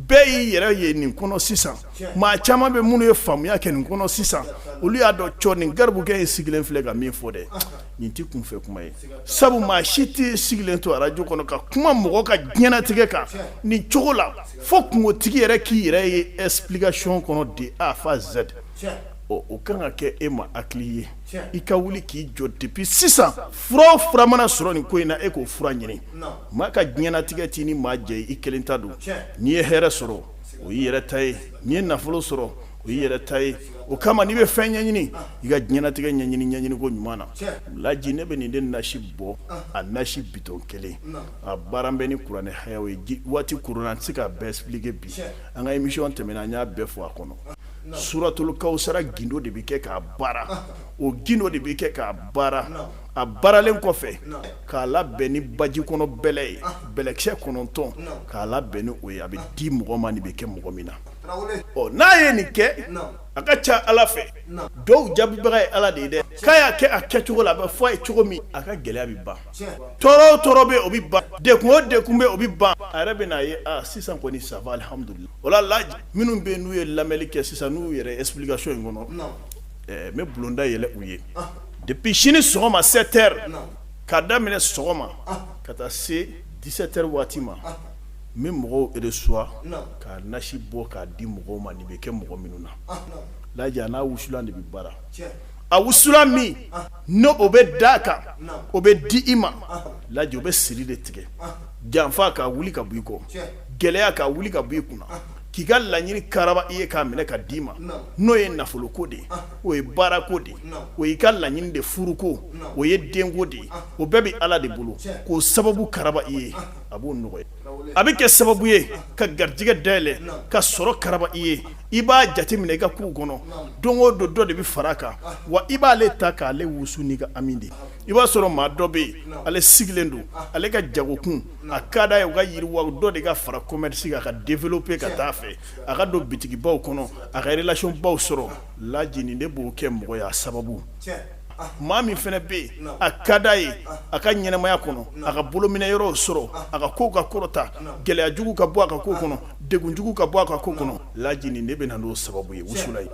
bɛɛ y'i yɛrɛ ye nin kɔnɔ sisan maa caman bɛ minnu ye faamuya kɛ nin kɔnɔ sisan olu y'a dɔn cɔ nin garibukɛ ye sigilen filɛ ka min fɔ dɛ nin tɛ kunfɛ kuma ye sabu maa si tɛ sigilen to arajo kɔnɔ ka kuma mɔgɔ ka diɲɛnatigɛ kan nin cogo la fo kunkotigi yɛrɛ k'i yɛrɛ ye explication kɔnɔ de a fo z o ka kan ka kɛ e ma hakili ye i ka wuli k'i jɔ depuis sisan fura o fura mana sɔrɔ nin ko in na e k'o fura ɲini maa ka diɲɛnatigɛ t'i ni maa jɛ i kelen ta don n'i ye hɛrɛ sɔrɔ o y'i yɛrɛ ta ye n'i ye nafolo sɔrɔ o y'i yɛrɛ ta ye o kama n'i bɛ fɛn ɲɛɲini i ka diɲɛnatigɛ ɲɛɲini koɲuman na laji ne bɛ nin de nasi bɔ a nasi bitɔn kelen a baara bɛ ni kuranɛ haya ye waati kurunna an tɛ se k'a bɛɛ expliquer bi an ka émission tɛmɛna an y'a bɛɛ fɔ a kɔnɔ suratul kawusara gindo de bɛ kɛ k'a baara o gindo de bɛ kɛ k'a baara a baaralen kɔfɛ k'a labɛn ni baji kɔnɔ bɛlɛ ye bɛlɛkisɛ kɔnɔntɔn k'a labɛn ni o ye a bɛ di mɔgɔ ma nin bɛ kɛ mɔgɔ min na ɔ n'a ye nin kɛ a ka ca ala fɛ duwawu jaabibaga ye ala de ye dɛ k'a y'a kɛ a kɛcogo la a bɛ fɔ a ye cogo min a ka gɛlɛya bɛ ban tɔɔrɔ o tɔɔrɔ bɛ o bɛ ban degun o degun bɛ o bɛ ban a yɛrɛ bɛn'a ye aaa sisan kɔni ça va alihamudulilayi o la laji minnu bɛ n'u ye lamɛnli kɛ sisan n'u yɛrɛ explication in kɔnɔ n bɛ bulonda yɛlɛ u ye depuis sini sɔgɔma sept heures k'a daminɛ sɔgɔma ka taa se dix-sept heures waati ma n bɛ mɔgɔw reçoit ka nasi bɔ k'a di mɔgɔw ma nin bɛ kɛ mɔgɔ minnu na laji a n'a wusulan de bɛ baara a wusulan min n'o bɛ d'a kan o bɛ di i ma laji o bɛ siri de tigɛ janfa k'a wuli ka bɔ i kɔ gɛlɛya k'a wuli ka bɔ i kunna k'i ka laɲini karaba i ye k'a minɛ ka d'i ma n'o ye nafoloko de ye o ye baarako de ye o y'i ka laɲini de furuko o ye denko de ye o bɛɛ bɛ ala de bolo k'o sababu karaba i ye a b'o nɔgɔya a bɛ kɛ sababu ye ka garijɛgɛ dayɛlɛ ka sɔrɔ karaba i ye i b'a jateminɛ i ka kow kɔnɔ don o don dɔ de bɛ fara a kan wa i b'ale ta k'ale wusu n'i ka ami de i b'a sɔrɔ maa dɔ bɛ yen ale sigilen don ale ka jagokun a ka d'a ye o ka yiriwa dɔ de ka fara commerce kan ka développer ka taa fɛ a ka don bitigibaw kɔnɔ a ka relation baw sɔrɔ laji nin de b'o kɛ mɔgɔ ye a sababu maa min fana bɛ yen a ka di a ye a ka ɲɛnamaya kɔnɔ a ka bolominɛyɔrɔw sɔrɔ a ka kow ka kɔrɔta gɛlɛya jugu ka bɔ a ka ko kɔnɔ degun jugu ka bɔ a ka ko kɔnɔ laji nin de bɛ na n'o sababu ye wusulan ye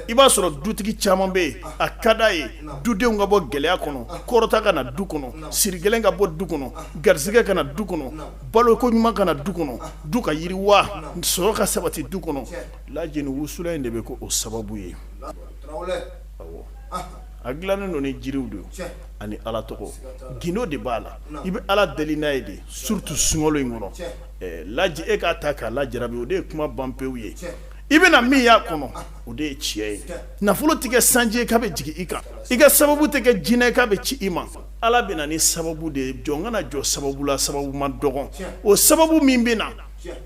i b'a sɔrɔ dutigi caman bɛ yen a ka di a ye dudenw ka bɔ gɛlɛya kɔnɔ kɔrɔta ka na du kɔnɔ siri gɛlɛn ka bɔ du kɔnɔ garisɛgɛ ka na du kɔnɔ baloko ɲuman ka na du kɔnɔ du ka yiriwa sɔrɔ ka sabati du kɔnɔ laji nin wusulan in de bɛ k'o sababu ye a dilannen don ni jiriw de ani ala tɔgɔ gindo de b'a la i bɛ ala deli n'a ye de surtout sunkalo in kɔnɔ laji e k'a ta k'a la jara o de ye kuma ban pewu ye i bɛna min y'a kɔnɔ o de ye tiɲɛ ye nafolo tɛ kɛ sanji ye k'a bɛ jigin i kan i ka sababu tɛ kɛ jinɛ ye k'a bɛ ci i ma ala bɛ na ni sababu de ye jɔn kana jɔ sababu la sababu ma dɔgɔn o sababu min bɛ na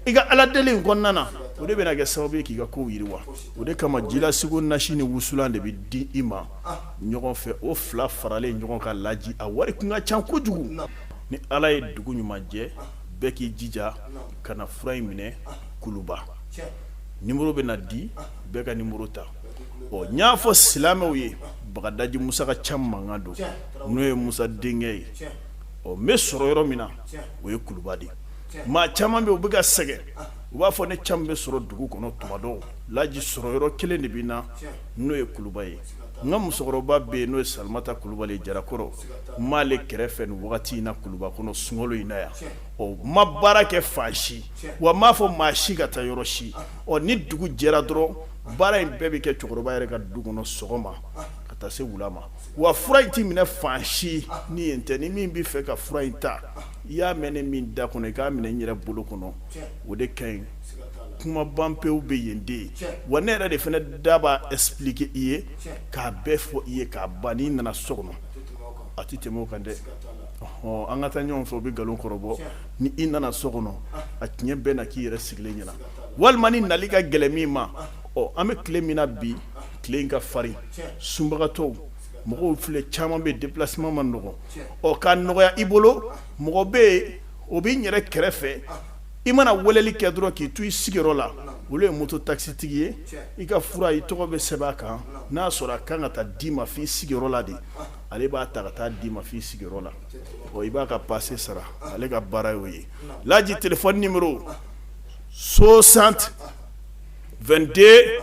i ka ala deli in kɔnɔna na o de bɛna kɛ sababu ye k'i ka kow yiriwa o de kama jilasiko nasi ni wusulan de bɛ di i ma ɲɔgɔn fɛ o fila faralen ɲɔgɔn kan laji a wari tun ka ca kojugu ni ala ye dugu ɲuman jɛ bɛɛ k'i jija ka na fura in minɛ kuluba numéro bɛna di bɛɛ ka numéro ta ɔ n y'a fɔ silamɛw ye bagadaji musa ka ca mankan don n'o ye musa denkɛ ye ɔ n bɛ sɔrɔ yɔrɔ min na o ye kuluba de ye maa caman bɛ u bɛ ka sɛgɛn u b'a fɔ ne caman bɛ sɔrɔ dugu kɔnɔ tuma dɔ laji sɔrɔ yɔrɔ kelen de bɛ na n'o ye kuluba ye n ka musokɔrɔba bɛ yen n'o ye samataba jarakɔrɔ n b'ale kɛrɛfɛ nin wagati in na kuluba kɔnɔ sunkalo in na yan ɔ n ma baara kɛ fan si wa n m'a fɔ maa si ka taa yɔrɔ si ɔ ni dugu jɛra dɔrɔn baara in bɛɛ bɛ kɛ cɛkɔrɔba yɛrɛ ka du kɔnɔ sɔgɔma ka taa se wula ma wa fura in tɛ minɛ fan si ni yen tɛ ni min bɛ fɛ ka fura in ta i y'a mɛn ne min da kɔnɔ i k'a minɛ n yɛrɛ bolo kɔnɔ o de ka ɲi kuma ban pewu bɛ yen de ye wa ne yɛrɛ de fana da b'a esplike i ye k'a bɛɛ fɔ i ye k'a ban n'i nana so kɔnɔ a tɛ tɛmɛ o kan dɛ ɔ an ka taa ɲɔgɔn fɛ o bɛ nkalon kɔrɔbɔ ni i nana so kɔnɔ a tiɲɛ bɛna k'i yɛrɛ sigilen ɲɛna walima ni nali ka gɛlɛn min ma ɔ an bɛ tile min na bi tile in ka farin sunbagatɔw mɔgɔw filɛ caman bɛ déplacement man nɔgɔ ɔ k'a nɔgɔya i bolo mɔgɔ bɛ yen o bɛ n yɛrɛ kɛrɛfɛ i mana weleli kɛ dɔrɔn k'i to i sigiyɔrɔ la olu ye moto taksitigi ye i ka fura i tɔgɔ bɛ sɛbɛn a kan n'a sɔrɔ a kan ka taa d'i ma f'i sigiyɔrɔ la de ale b'a ta ka taa d'i ma f'i sigiyɔrɔ la ɔ i b'a ka pase sara ale ka baara y'o ye laji téléphone numéro 60 22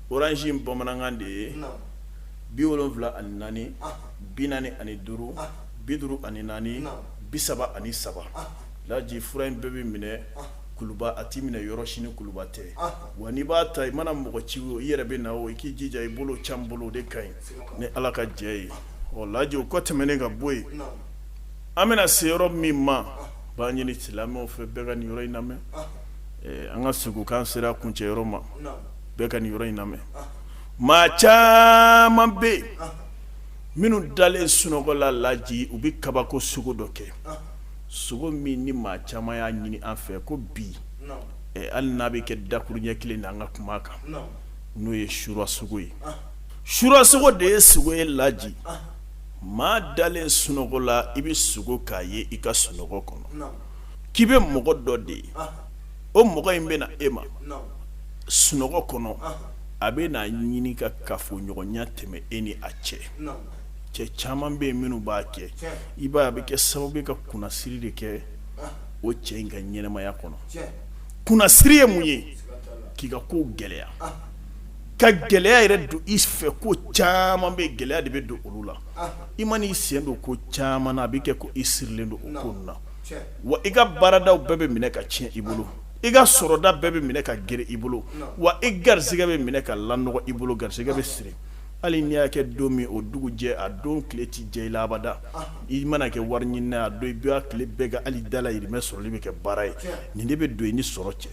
orange in bamanankan de ye bi wolonwula ani naani bi naani ani duuru bi duuru ani naani bi saba ani saba laji fura in bɛɛ bɛ minɛ kuluba a tɛ minɛ yɔrɔ si ni kuluba tɛ wa n'i b'a ta i mana mɔgɔ ci o i yɛrɛ bɛ na o i k'i jija i bolo can bolo o de ka ɲi ni ala ka jɛ ye ɔ laji o kɔ tɛmɛnen ka bɔ yen an bɛna se yɔrɔ min ma b'a ɲini silamɛw fɛ bɛɛ ka nin yɔrɔ in lamɛn an ka segukan sera kuncɛ yɔrɔ ma bɛɛ ka nin yɔrɔ in lamɛn maa caman bɛ yen minnu dalen sunɔgɔ la laji u bɛ kabako sogo dɔ kɛ sogo min ni maa caman y'a ɲini an fɛ ko bi hali n'a bɛ kɛ dakuruɲɛ kelen na an ka kuma kan n'o ye sura sogo ye sura sogo de ye sogo ye laji maa dalen sunɔgɔ la i bɛ sogo k'a ye i ka sunɔgɔ kɔnɔ k'i bɛ mɔgɔ dɔ de ye o mɔgɔ in bɛna na e ma sunɔgɔ kɔnɔ a bɛ n'a ɲini ka kafoɲɔgɔnya tɛmɛ e ni a cɛ cɛ caman bɛ yen minnu b'a kɛ i b'a a bɛ kɛ sababu ye ka kunnasiri de kɛ o cɛ in ka ɲɛnamaya kɔnɔ kunnasiri ye mun ye k'i ka ko gɛlɛya ka gɛlɛya yɛrɛ don i fɛ ko caman bɛ gɛlɛya de bɛ don olu la i man'i sen don ko caman na a bɛ kɛ ko i sirilen don o ko ninnu na wa i ka baarada bɛɛ bɛ minɛ ka tiɲɛ i bolo i ka sɔrɔda bɛɛ bɛ minɛ ka gɛrɛn i bolo wa i garisɛgɛ bɛ minɛ ka lanɔgɔ i bolo garisɛgɛ bɛ siri hali n'i y'a kɛ don min o dugu jɛ a don tile tɛ jɛ i la abada i mana kɛ wari ɲini a don i bɛ tile bɛɛ kɛ hali dala yiriba sɔrɔli bɛ kɛ baara ye nin de bɛ don i ni sɔrɔ cɛ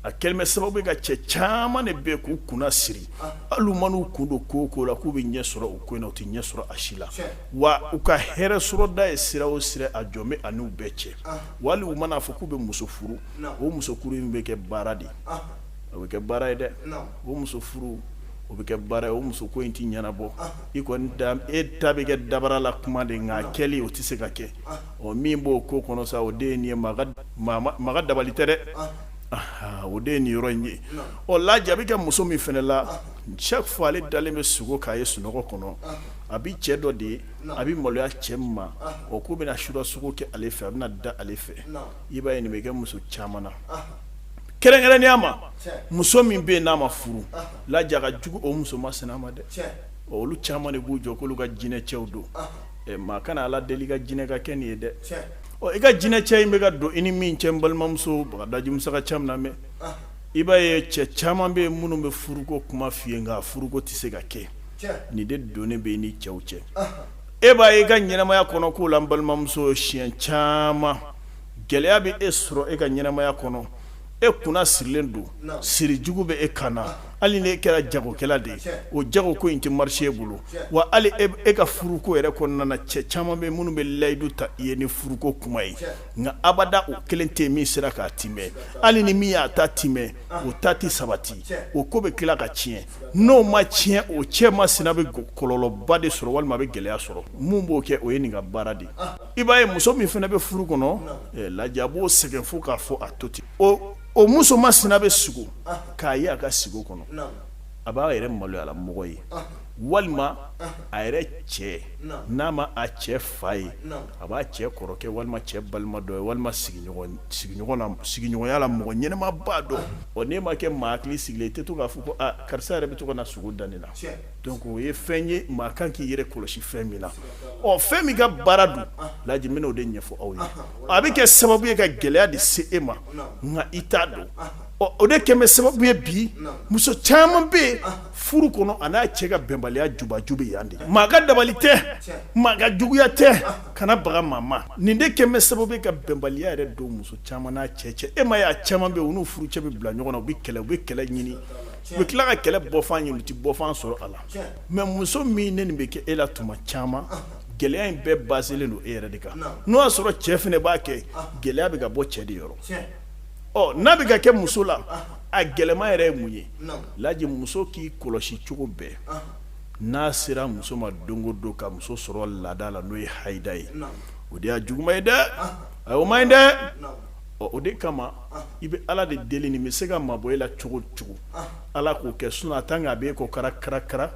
a kɛlen bɛ sababu ye ka cɛ caman de bɛ k'u kunnasiri hali u man'u kun don ko o ko la k'u bɛ ɲɛ sɔrɔ o ko in na u tɛ ɲɛ sɔrɔ a si la wa u ka hɛrɛ sɔrɔda ye sira o sira a jɔ bɛ a ni bɛɛ cɛ wa hali u man'a fɔ k'u bɛ muso furu o muso furu in bɛ kɛ baara de ye o bɛ kɛ baara ye dɛ o muso furu o bɛ kɛ baara ye o muso ko in tɛ ɲɛnabɔ i kɔni e ta bɛ kɛ dabara la kuma de nka kɛli o tɛ se ka kɛ ɔ min b'o ko kɔnɔ sa o de ye nin ye maa ka dabali tɛ dɛ o de ye nin yɔrɔ in ye ɔ laji a bɛ kɛ muso min fana la chaque fois ale dalen bɛ sogo k'a ye sunɔgɔ kɔnɔ a bɛ cɛ dɔ de ye a bɛ maloya cɛ min ma o ko bɛna sura sogo kɛ ale fɛ a bɛna da ale fɛ i b'a ye nin bɛ kɛ muso caman na kɛrɛnkɛrɛnnenya ma muso min bɛ yen n'a ma furu laji a ka jugu o muso masina ma dɛ olu caman de b'u jɔ k'olu ka jinɛcɛw don maa kana ala deli ka jinɛ ka kɛ nin ye dɛ i ka jinɛcɛ in bɛ ka don i ni min cɛ balimamuso bagadaji musa ka can lamɛn i b'a ye cɛ caman bɛ yen minnu bɛ furuko kuma f'i ye nka furuko tɛ se ka kɛ nin de donnen bɛ e ni cɛw cɛ e b'a ye e ka ɲɛnamaya kɔnɔ k'o la n balimamuso siɲɛ caman gɛlɛya bɛ e sɔrɔ e ka ɲɛnamaya kɔnɔ e kunna sirilen don sirijugu bɛ e kan na hali ni e kɛra jagokɛla de ye o jago ko in tɛ marché e bolo wa hali e ka furuko yɛrɛ kɔnɔna cɛ caman bɛ minnu bɛ layidu ta i ye ni furuko kuma ye nka abada o kelen tɛ min sera k'a timɛ hali ni min y'a ta timɛ o ta tɛ sabati o ko bɛ tila ka tiɲɛ n'o ma tiɲɛ o cɛ masina bɛ kɔlɔlɔba de sɔrɔ walima bɛ gɛlɛya sɔrɔ mun b'o kɛ o ye nin ka baara de ye i b'a ye muso min fana bɛ furu kɔnɔ laji a b'o sɛgɛn fo k'a fɔ a to ten o muso masina bɛ sigo k'a ye a ka sigo kɔnɔ a b'a yɛrɛ maloyalamɔgɔ ye walima a yɛrɛ cɛ n'a ma a cɛ fa ye a b'a cɛ kɔrɔkɛ walima cɛ balima dɔ ye walima sigiɲɔgɔnya la mɔgɔ ɲɛnɛmaba dɔ n'e ma kɛ maa hakili sigilen i tɛ to k'a fɔ ko karisa yɛrɛ bɛ to ka na sugo da ne na o ye fɛn ye maa kan k'i yɛrɛ kɔlɔsi fɛn min na ɔ fɛn min ka baara don laji n bɛna o de ɲɛfɔ aw ye a bɛ kɛ sababu ye ka gɛlɛya de se e ma nka i t'a dɔn ɔ o de kɛmɛ sababu ye bi muso caman bɛ yen furu kɔnɔ a n'a cɛ ka bɛnbaliya jubaju bɛ yan de maa ka dabali tɛ maa ka juguya tɛ ka na baga maa ma nin de kɛmɛ sababu ye ka bɛnbaliya yɛrɛ don muso caman n'a cɛ cɛ e m'a ye a caman bɛ yen u n'u furucɛ bɛ bila ɲɔgɔn na u bɛ kɛlɛ u bɛ kɛlɛ ɲini u bɛ tila ka kɛlɛ bɔfan ɲini u tɛ bɔfan sɔrɔ a la mɛ muso min ni nin bɛ kɛ e la tuma caman gɛlɛya in bɛɛ baselen don e yɛrɛ de kan n'o y'a sɔrɔ cɛ fana b'a kɛ gɛlɛya bɛ ka bɔ cɛ de yɔrɔ ɔ n'a bɛ ka kɛ muso la a gɛlɛma yɛrɛ ye mun ye laji muso k'i kɔlɔsi cogo bɛɛ n'a sera muso ma don o don ka muso sɔrɔ laada la n'o ye hayida ye o de y'a juguman ye dɛ a o ma ɲi dɛ ɔ o de kama i bɛ ala de deli nin bɛ se ka mabɔ e la cogo cogo ala k'o kɛ sinon a tan k'a bɛ e ko kara karakara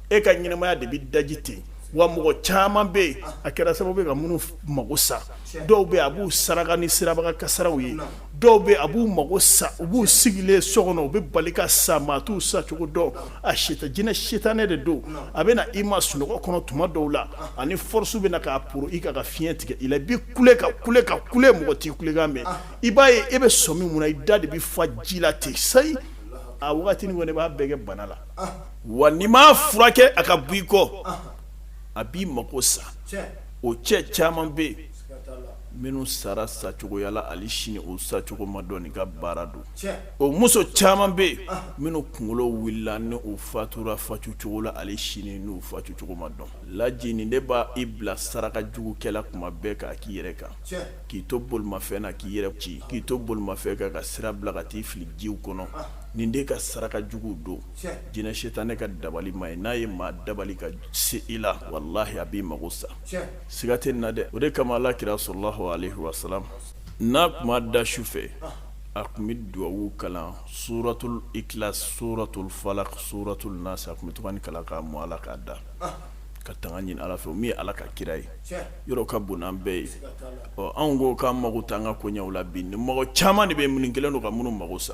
e ka ɲɛnamaya de bɛ daji ten wa mɔgɔ caman bɛ yen a kɛra sababu ye ka minnu mago sa dɔw bɛ a b'u saraka ni siraba kan kasaraw ye dɔw bɛ a b'u mago sa u b'u sigilen so kɔnɔ u bɛ bali ka sa maa t'u sa cogo dɔn a sita jinɛ sitanɛ de don a bɛ na i ma sunɔgɔ kɔnɔ tuma dɔw la a ni force bɛ na k'a poro i kan ka fiɲɛ tigɛ i la i bɛ kule ka kule ka kule mɔgɔ t'i kulekan mɛn i b'a ye e bɛ sɔmi mun na i da de bɛ fa ji la ten sayi a wagati nin kɔni b'a bɛɛ kɛ bana la wa n'i m'a furakɛ a ka bɔ i kɔ a b'i mako sa o cɛ caman bɛ yen minnu sara sacogoyala hali sini o sacogo ma dɔn nin ka baara don o muso caman bɛ yen minnu kunkolo wulila ni u fatura fatucogo la hali sini n'u fatucogo ma dɔn laji nin de b'i bila saraka jugu kɛ la tuma bɛɛ k'a k'i yɛrɛ kan k'i to bolimafɛn na k'i yɛrɛ ci k'i to bolimafɛn kan ka sira bila ka t'i fili jiw kɔnɔ nin de ka saraka jugu don jinɛ sitanɛ ka dabali ma ye n'a ye maa dabali ka se i la walahi a b'i mago sa siga tɛ nin na dɛ o de kama ala kira sallallahu alaihi wasallam n'a tun ma da su fɛ a tun bɛ duwawu kalan suratul ikhlas suratul falaq suratul nas a tun bɛ to ka nin kalan k'a mɔ a la k'a da ka tanga ɲini ala fɛ min ye ala ka kira ye yɔrɔ ka bon n'an bɛɛ ye ɔ anw ko k'an mago t'an ka koɲaw la bi ni mɔgɔ caman de bɛ minnu kɛlen don ka minnu mago sa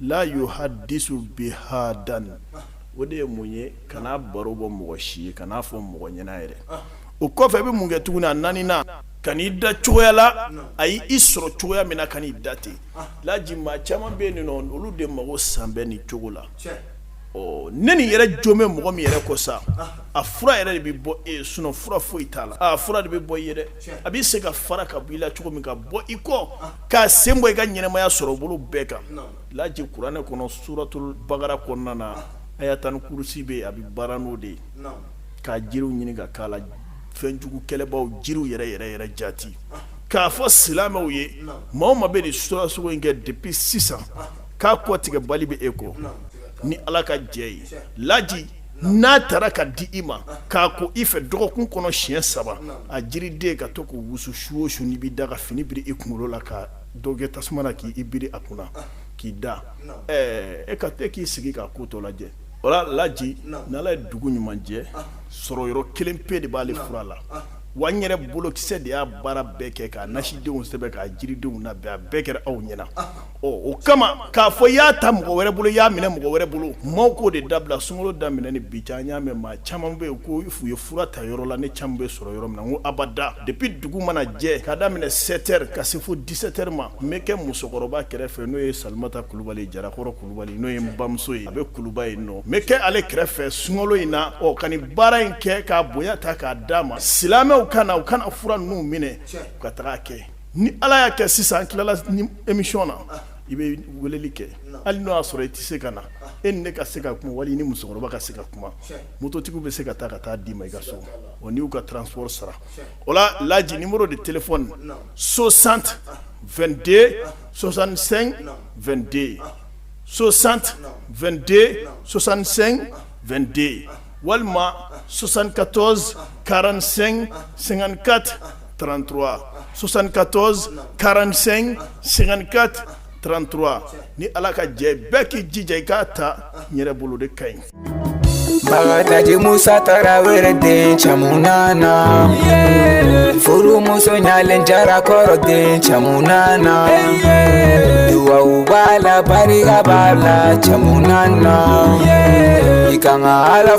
la yuhaddisu bihadan o de ye mun ye kana baro bɔ mɔgɔ si ye kan'a fɔ mɔgɔ ɲɛna yɛrɛ o kɔfɛ i bɛ mun kɛ tuguni a naaninan kan'i da cogoya la a y'i sɔrɔ cogoya min na kan'i da ten laji maa caman bɛ yen nɔ olu de mago san bɛ nin cogo la ɔ ne nin yɛrɛ jo bɛ mɔgɔ min yɛrɛ kɔ sa a fura yɛrɛ de bɛ bɔ e sinon fura foyi t'a la fura de bɛ bɔ i yɛrɛ a bɛ se ka fara ka bɔ i la cogo min ka bɔ i kɔ k'a sen bɔ i ka ɲɛnamaya sɔrɔ bolo bɛɛ kan laji kuranɛ kɔnɔ suratul bakara kɔnɔna na ayatal kurusi bɛ a bɛ baara n'o de ye k'a jiriw ɲini ka k'a la fɛnjugu kɛlɛbaw jiriw yɛrɛ yɛrɛ yɛrɛ jati k'a fɔ silamɛw ye maa o maa bɛ nin surasogo in kɛ depuis sisan ka kɔtigɛbali bɛ e kɔ ni ala ka jɛ ye laji n'a taara ka di i ma k'a ko i fɛ dɔgɔkun kɔnɔ siɲɛ saba a jiriden ka to k'o wusu su o su n'i b'i da ka fini biri i kunkolo la ka dɔ kɛ tasuma na k'i biri a kunna k'i da e ka e k'i sigi k'a ko tɔ lajɛ o laji n'ala ye dugu ɲuman jɛ sɔrɔ yɔrɔ kelen pe de b'ale fura la wa n yɛrɛ bolokisɛ de y'a baara bɛɛ kɛ k'a nasidenw sɛbɛn k'a jiridenw labɛn a bɛɛ kɛra aw ɲɛna ɔ o kama k'a fɔ i y'a ta mɔgɔ wɛrɛ bolo i y'a minɛ mɔgɔ wɛrɛ bolo maaw k'o de dabila sunkalo daminɛ ni bi cɛ an y'a mɛn maa caman bɛ yen ko u ye fura ta yɔrɔ la ne caman bɛ sɔrɔ yɔrɔ min na n ko abada depuis dugu mana jɛ k'a daminɛ 7 heures ka se fo 17 heures ma n bɛ kɛ musokɔrɔba kɛrɛfɛ n'o ye Salimata Kulubali Jarakɔrɔ Kulubali n'o ye n bamuso ye a bɛ Kuluba yen nɔ n bɛ kɛ ale kɛrɛfɛ sunkalo in na ɔ ka nin baara in kɛ k'a bonya ta k'a d'a ma silamɛw ka na u kana fura ninnu minɛ u ka taga a kɛ ni ala y'a kɛ sisan tilala emiyɔn na i bɛ weleli kɛ hali n'o y'a sɔrɔ i tɛ se ka na e ne ka se ka kuma wali ni musokɔrɔba ka se ka kuma musotigiw bɛ se ka taa ka taa d'i ma i ka so o n''u ka transo sara o la lajimuru de tele so santi2den sɔsan2den so santi2den sɔsan2den walima sɔsankatɔz karan sɛgɛngankati trente-trois soixante-quatorze quarante-cinq cinquante-quatre trente-trois ni ala ka jɛ bɛɛ k'i jija i k'a ta n yɛrɛ bolo de ka ɲi bagadaji musa tarawele den caman nana furumuso ɲalen jara kɔrɔ den caman nana duwawu b'a la barika b'a la caman nana i ka ala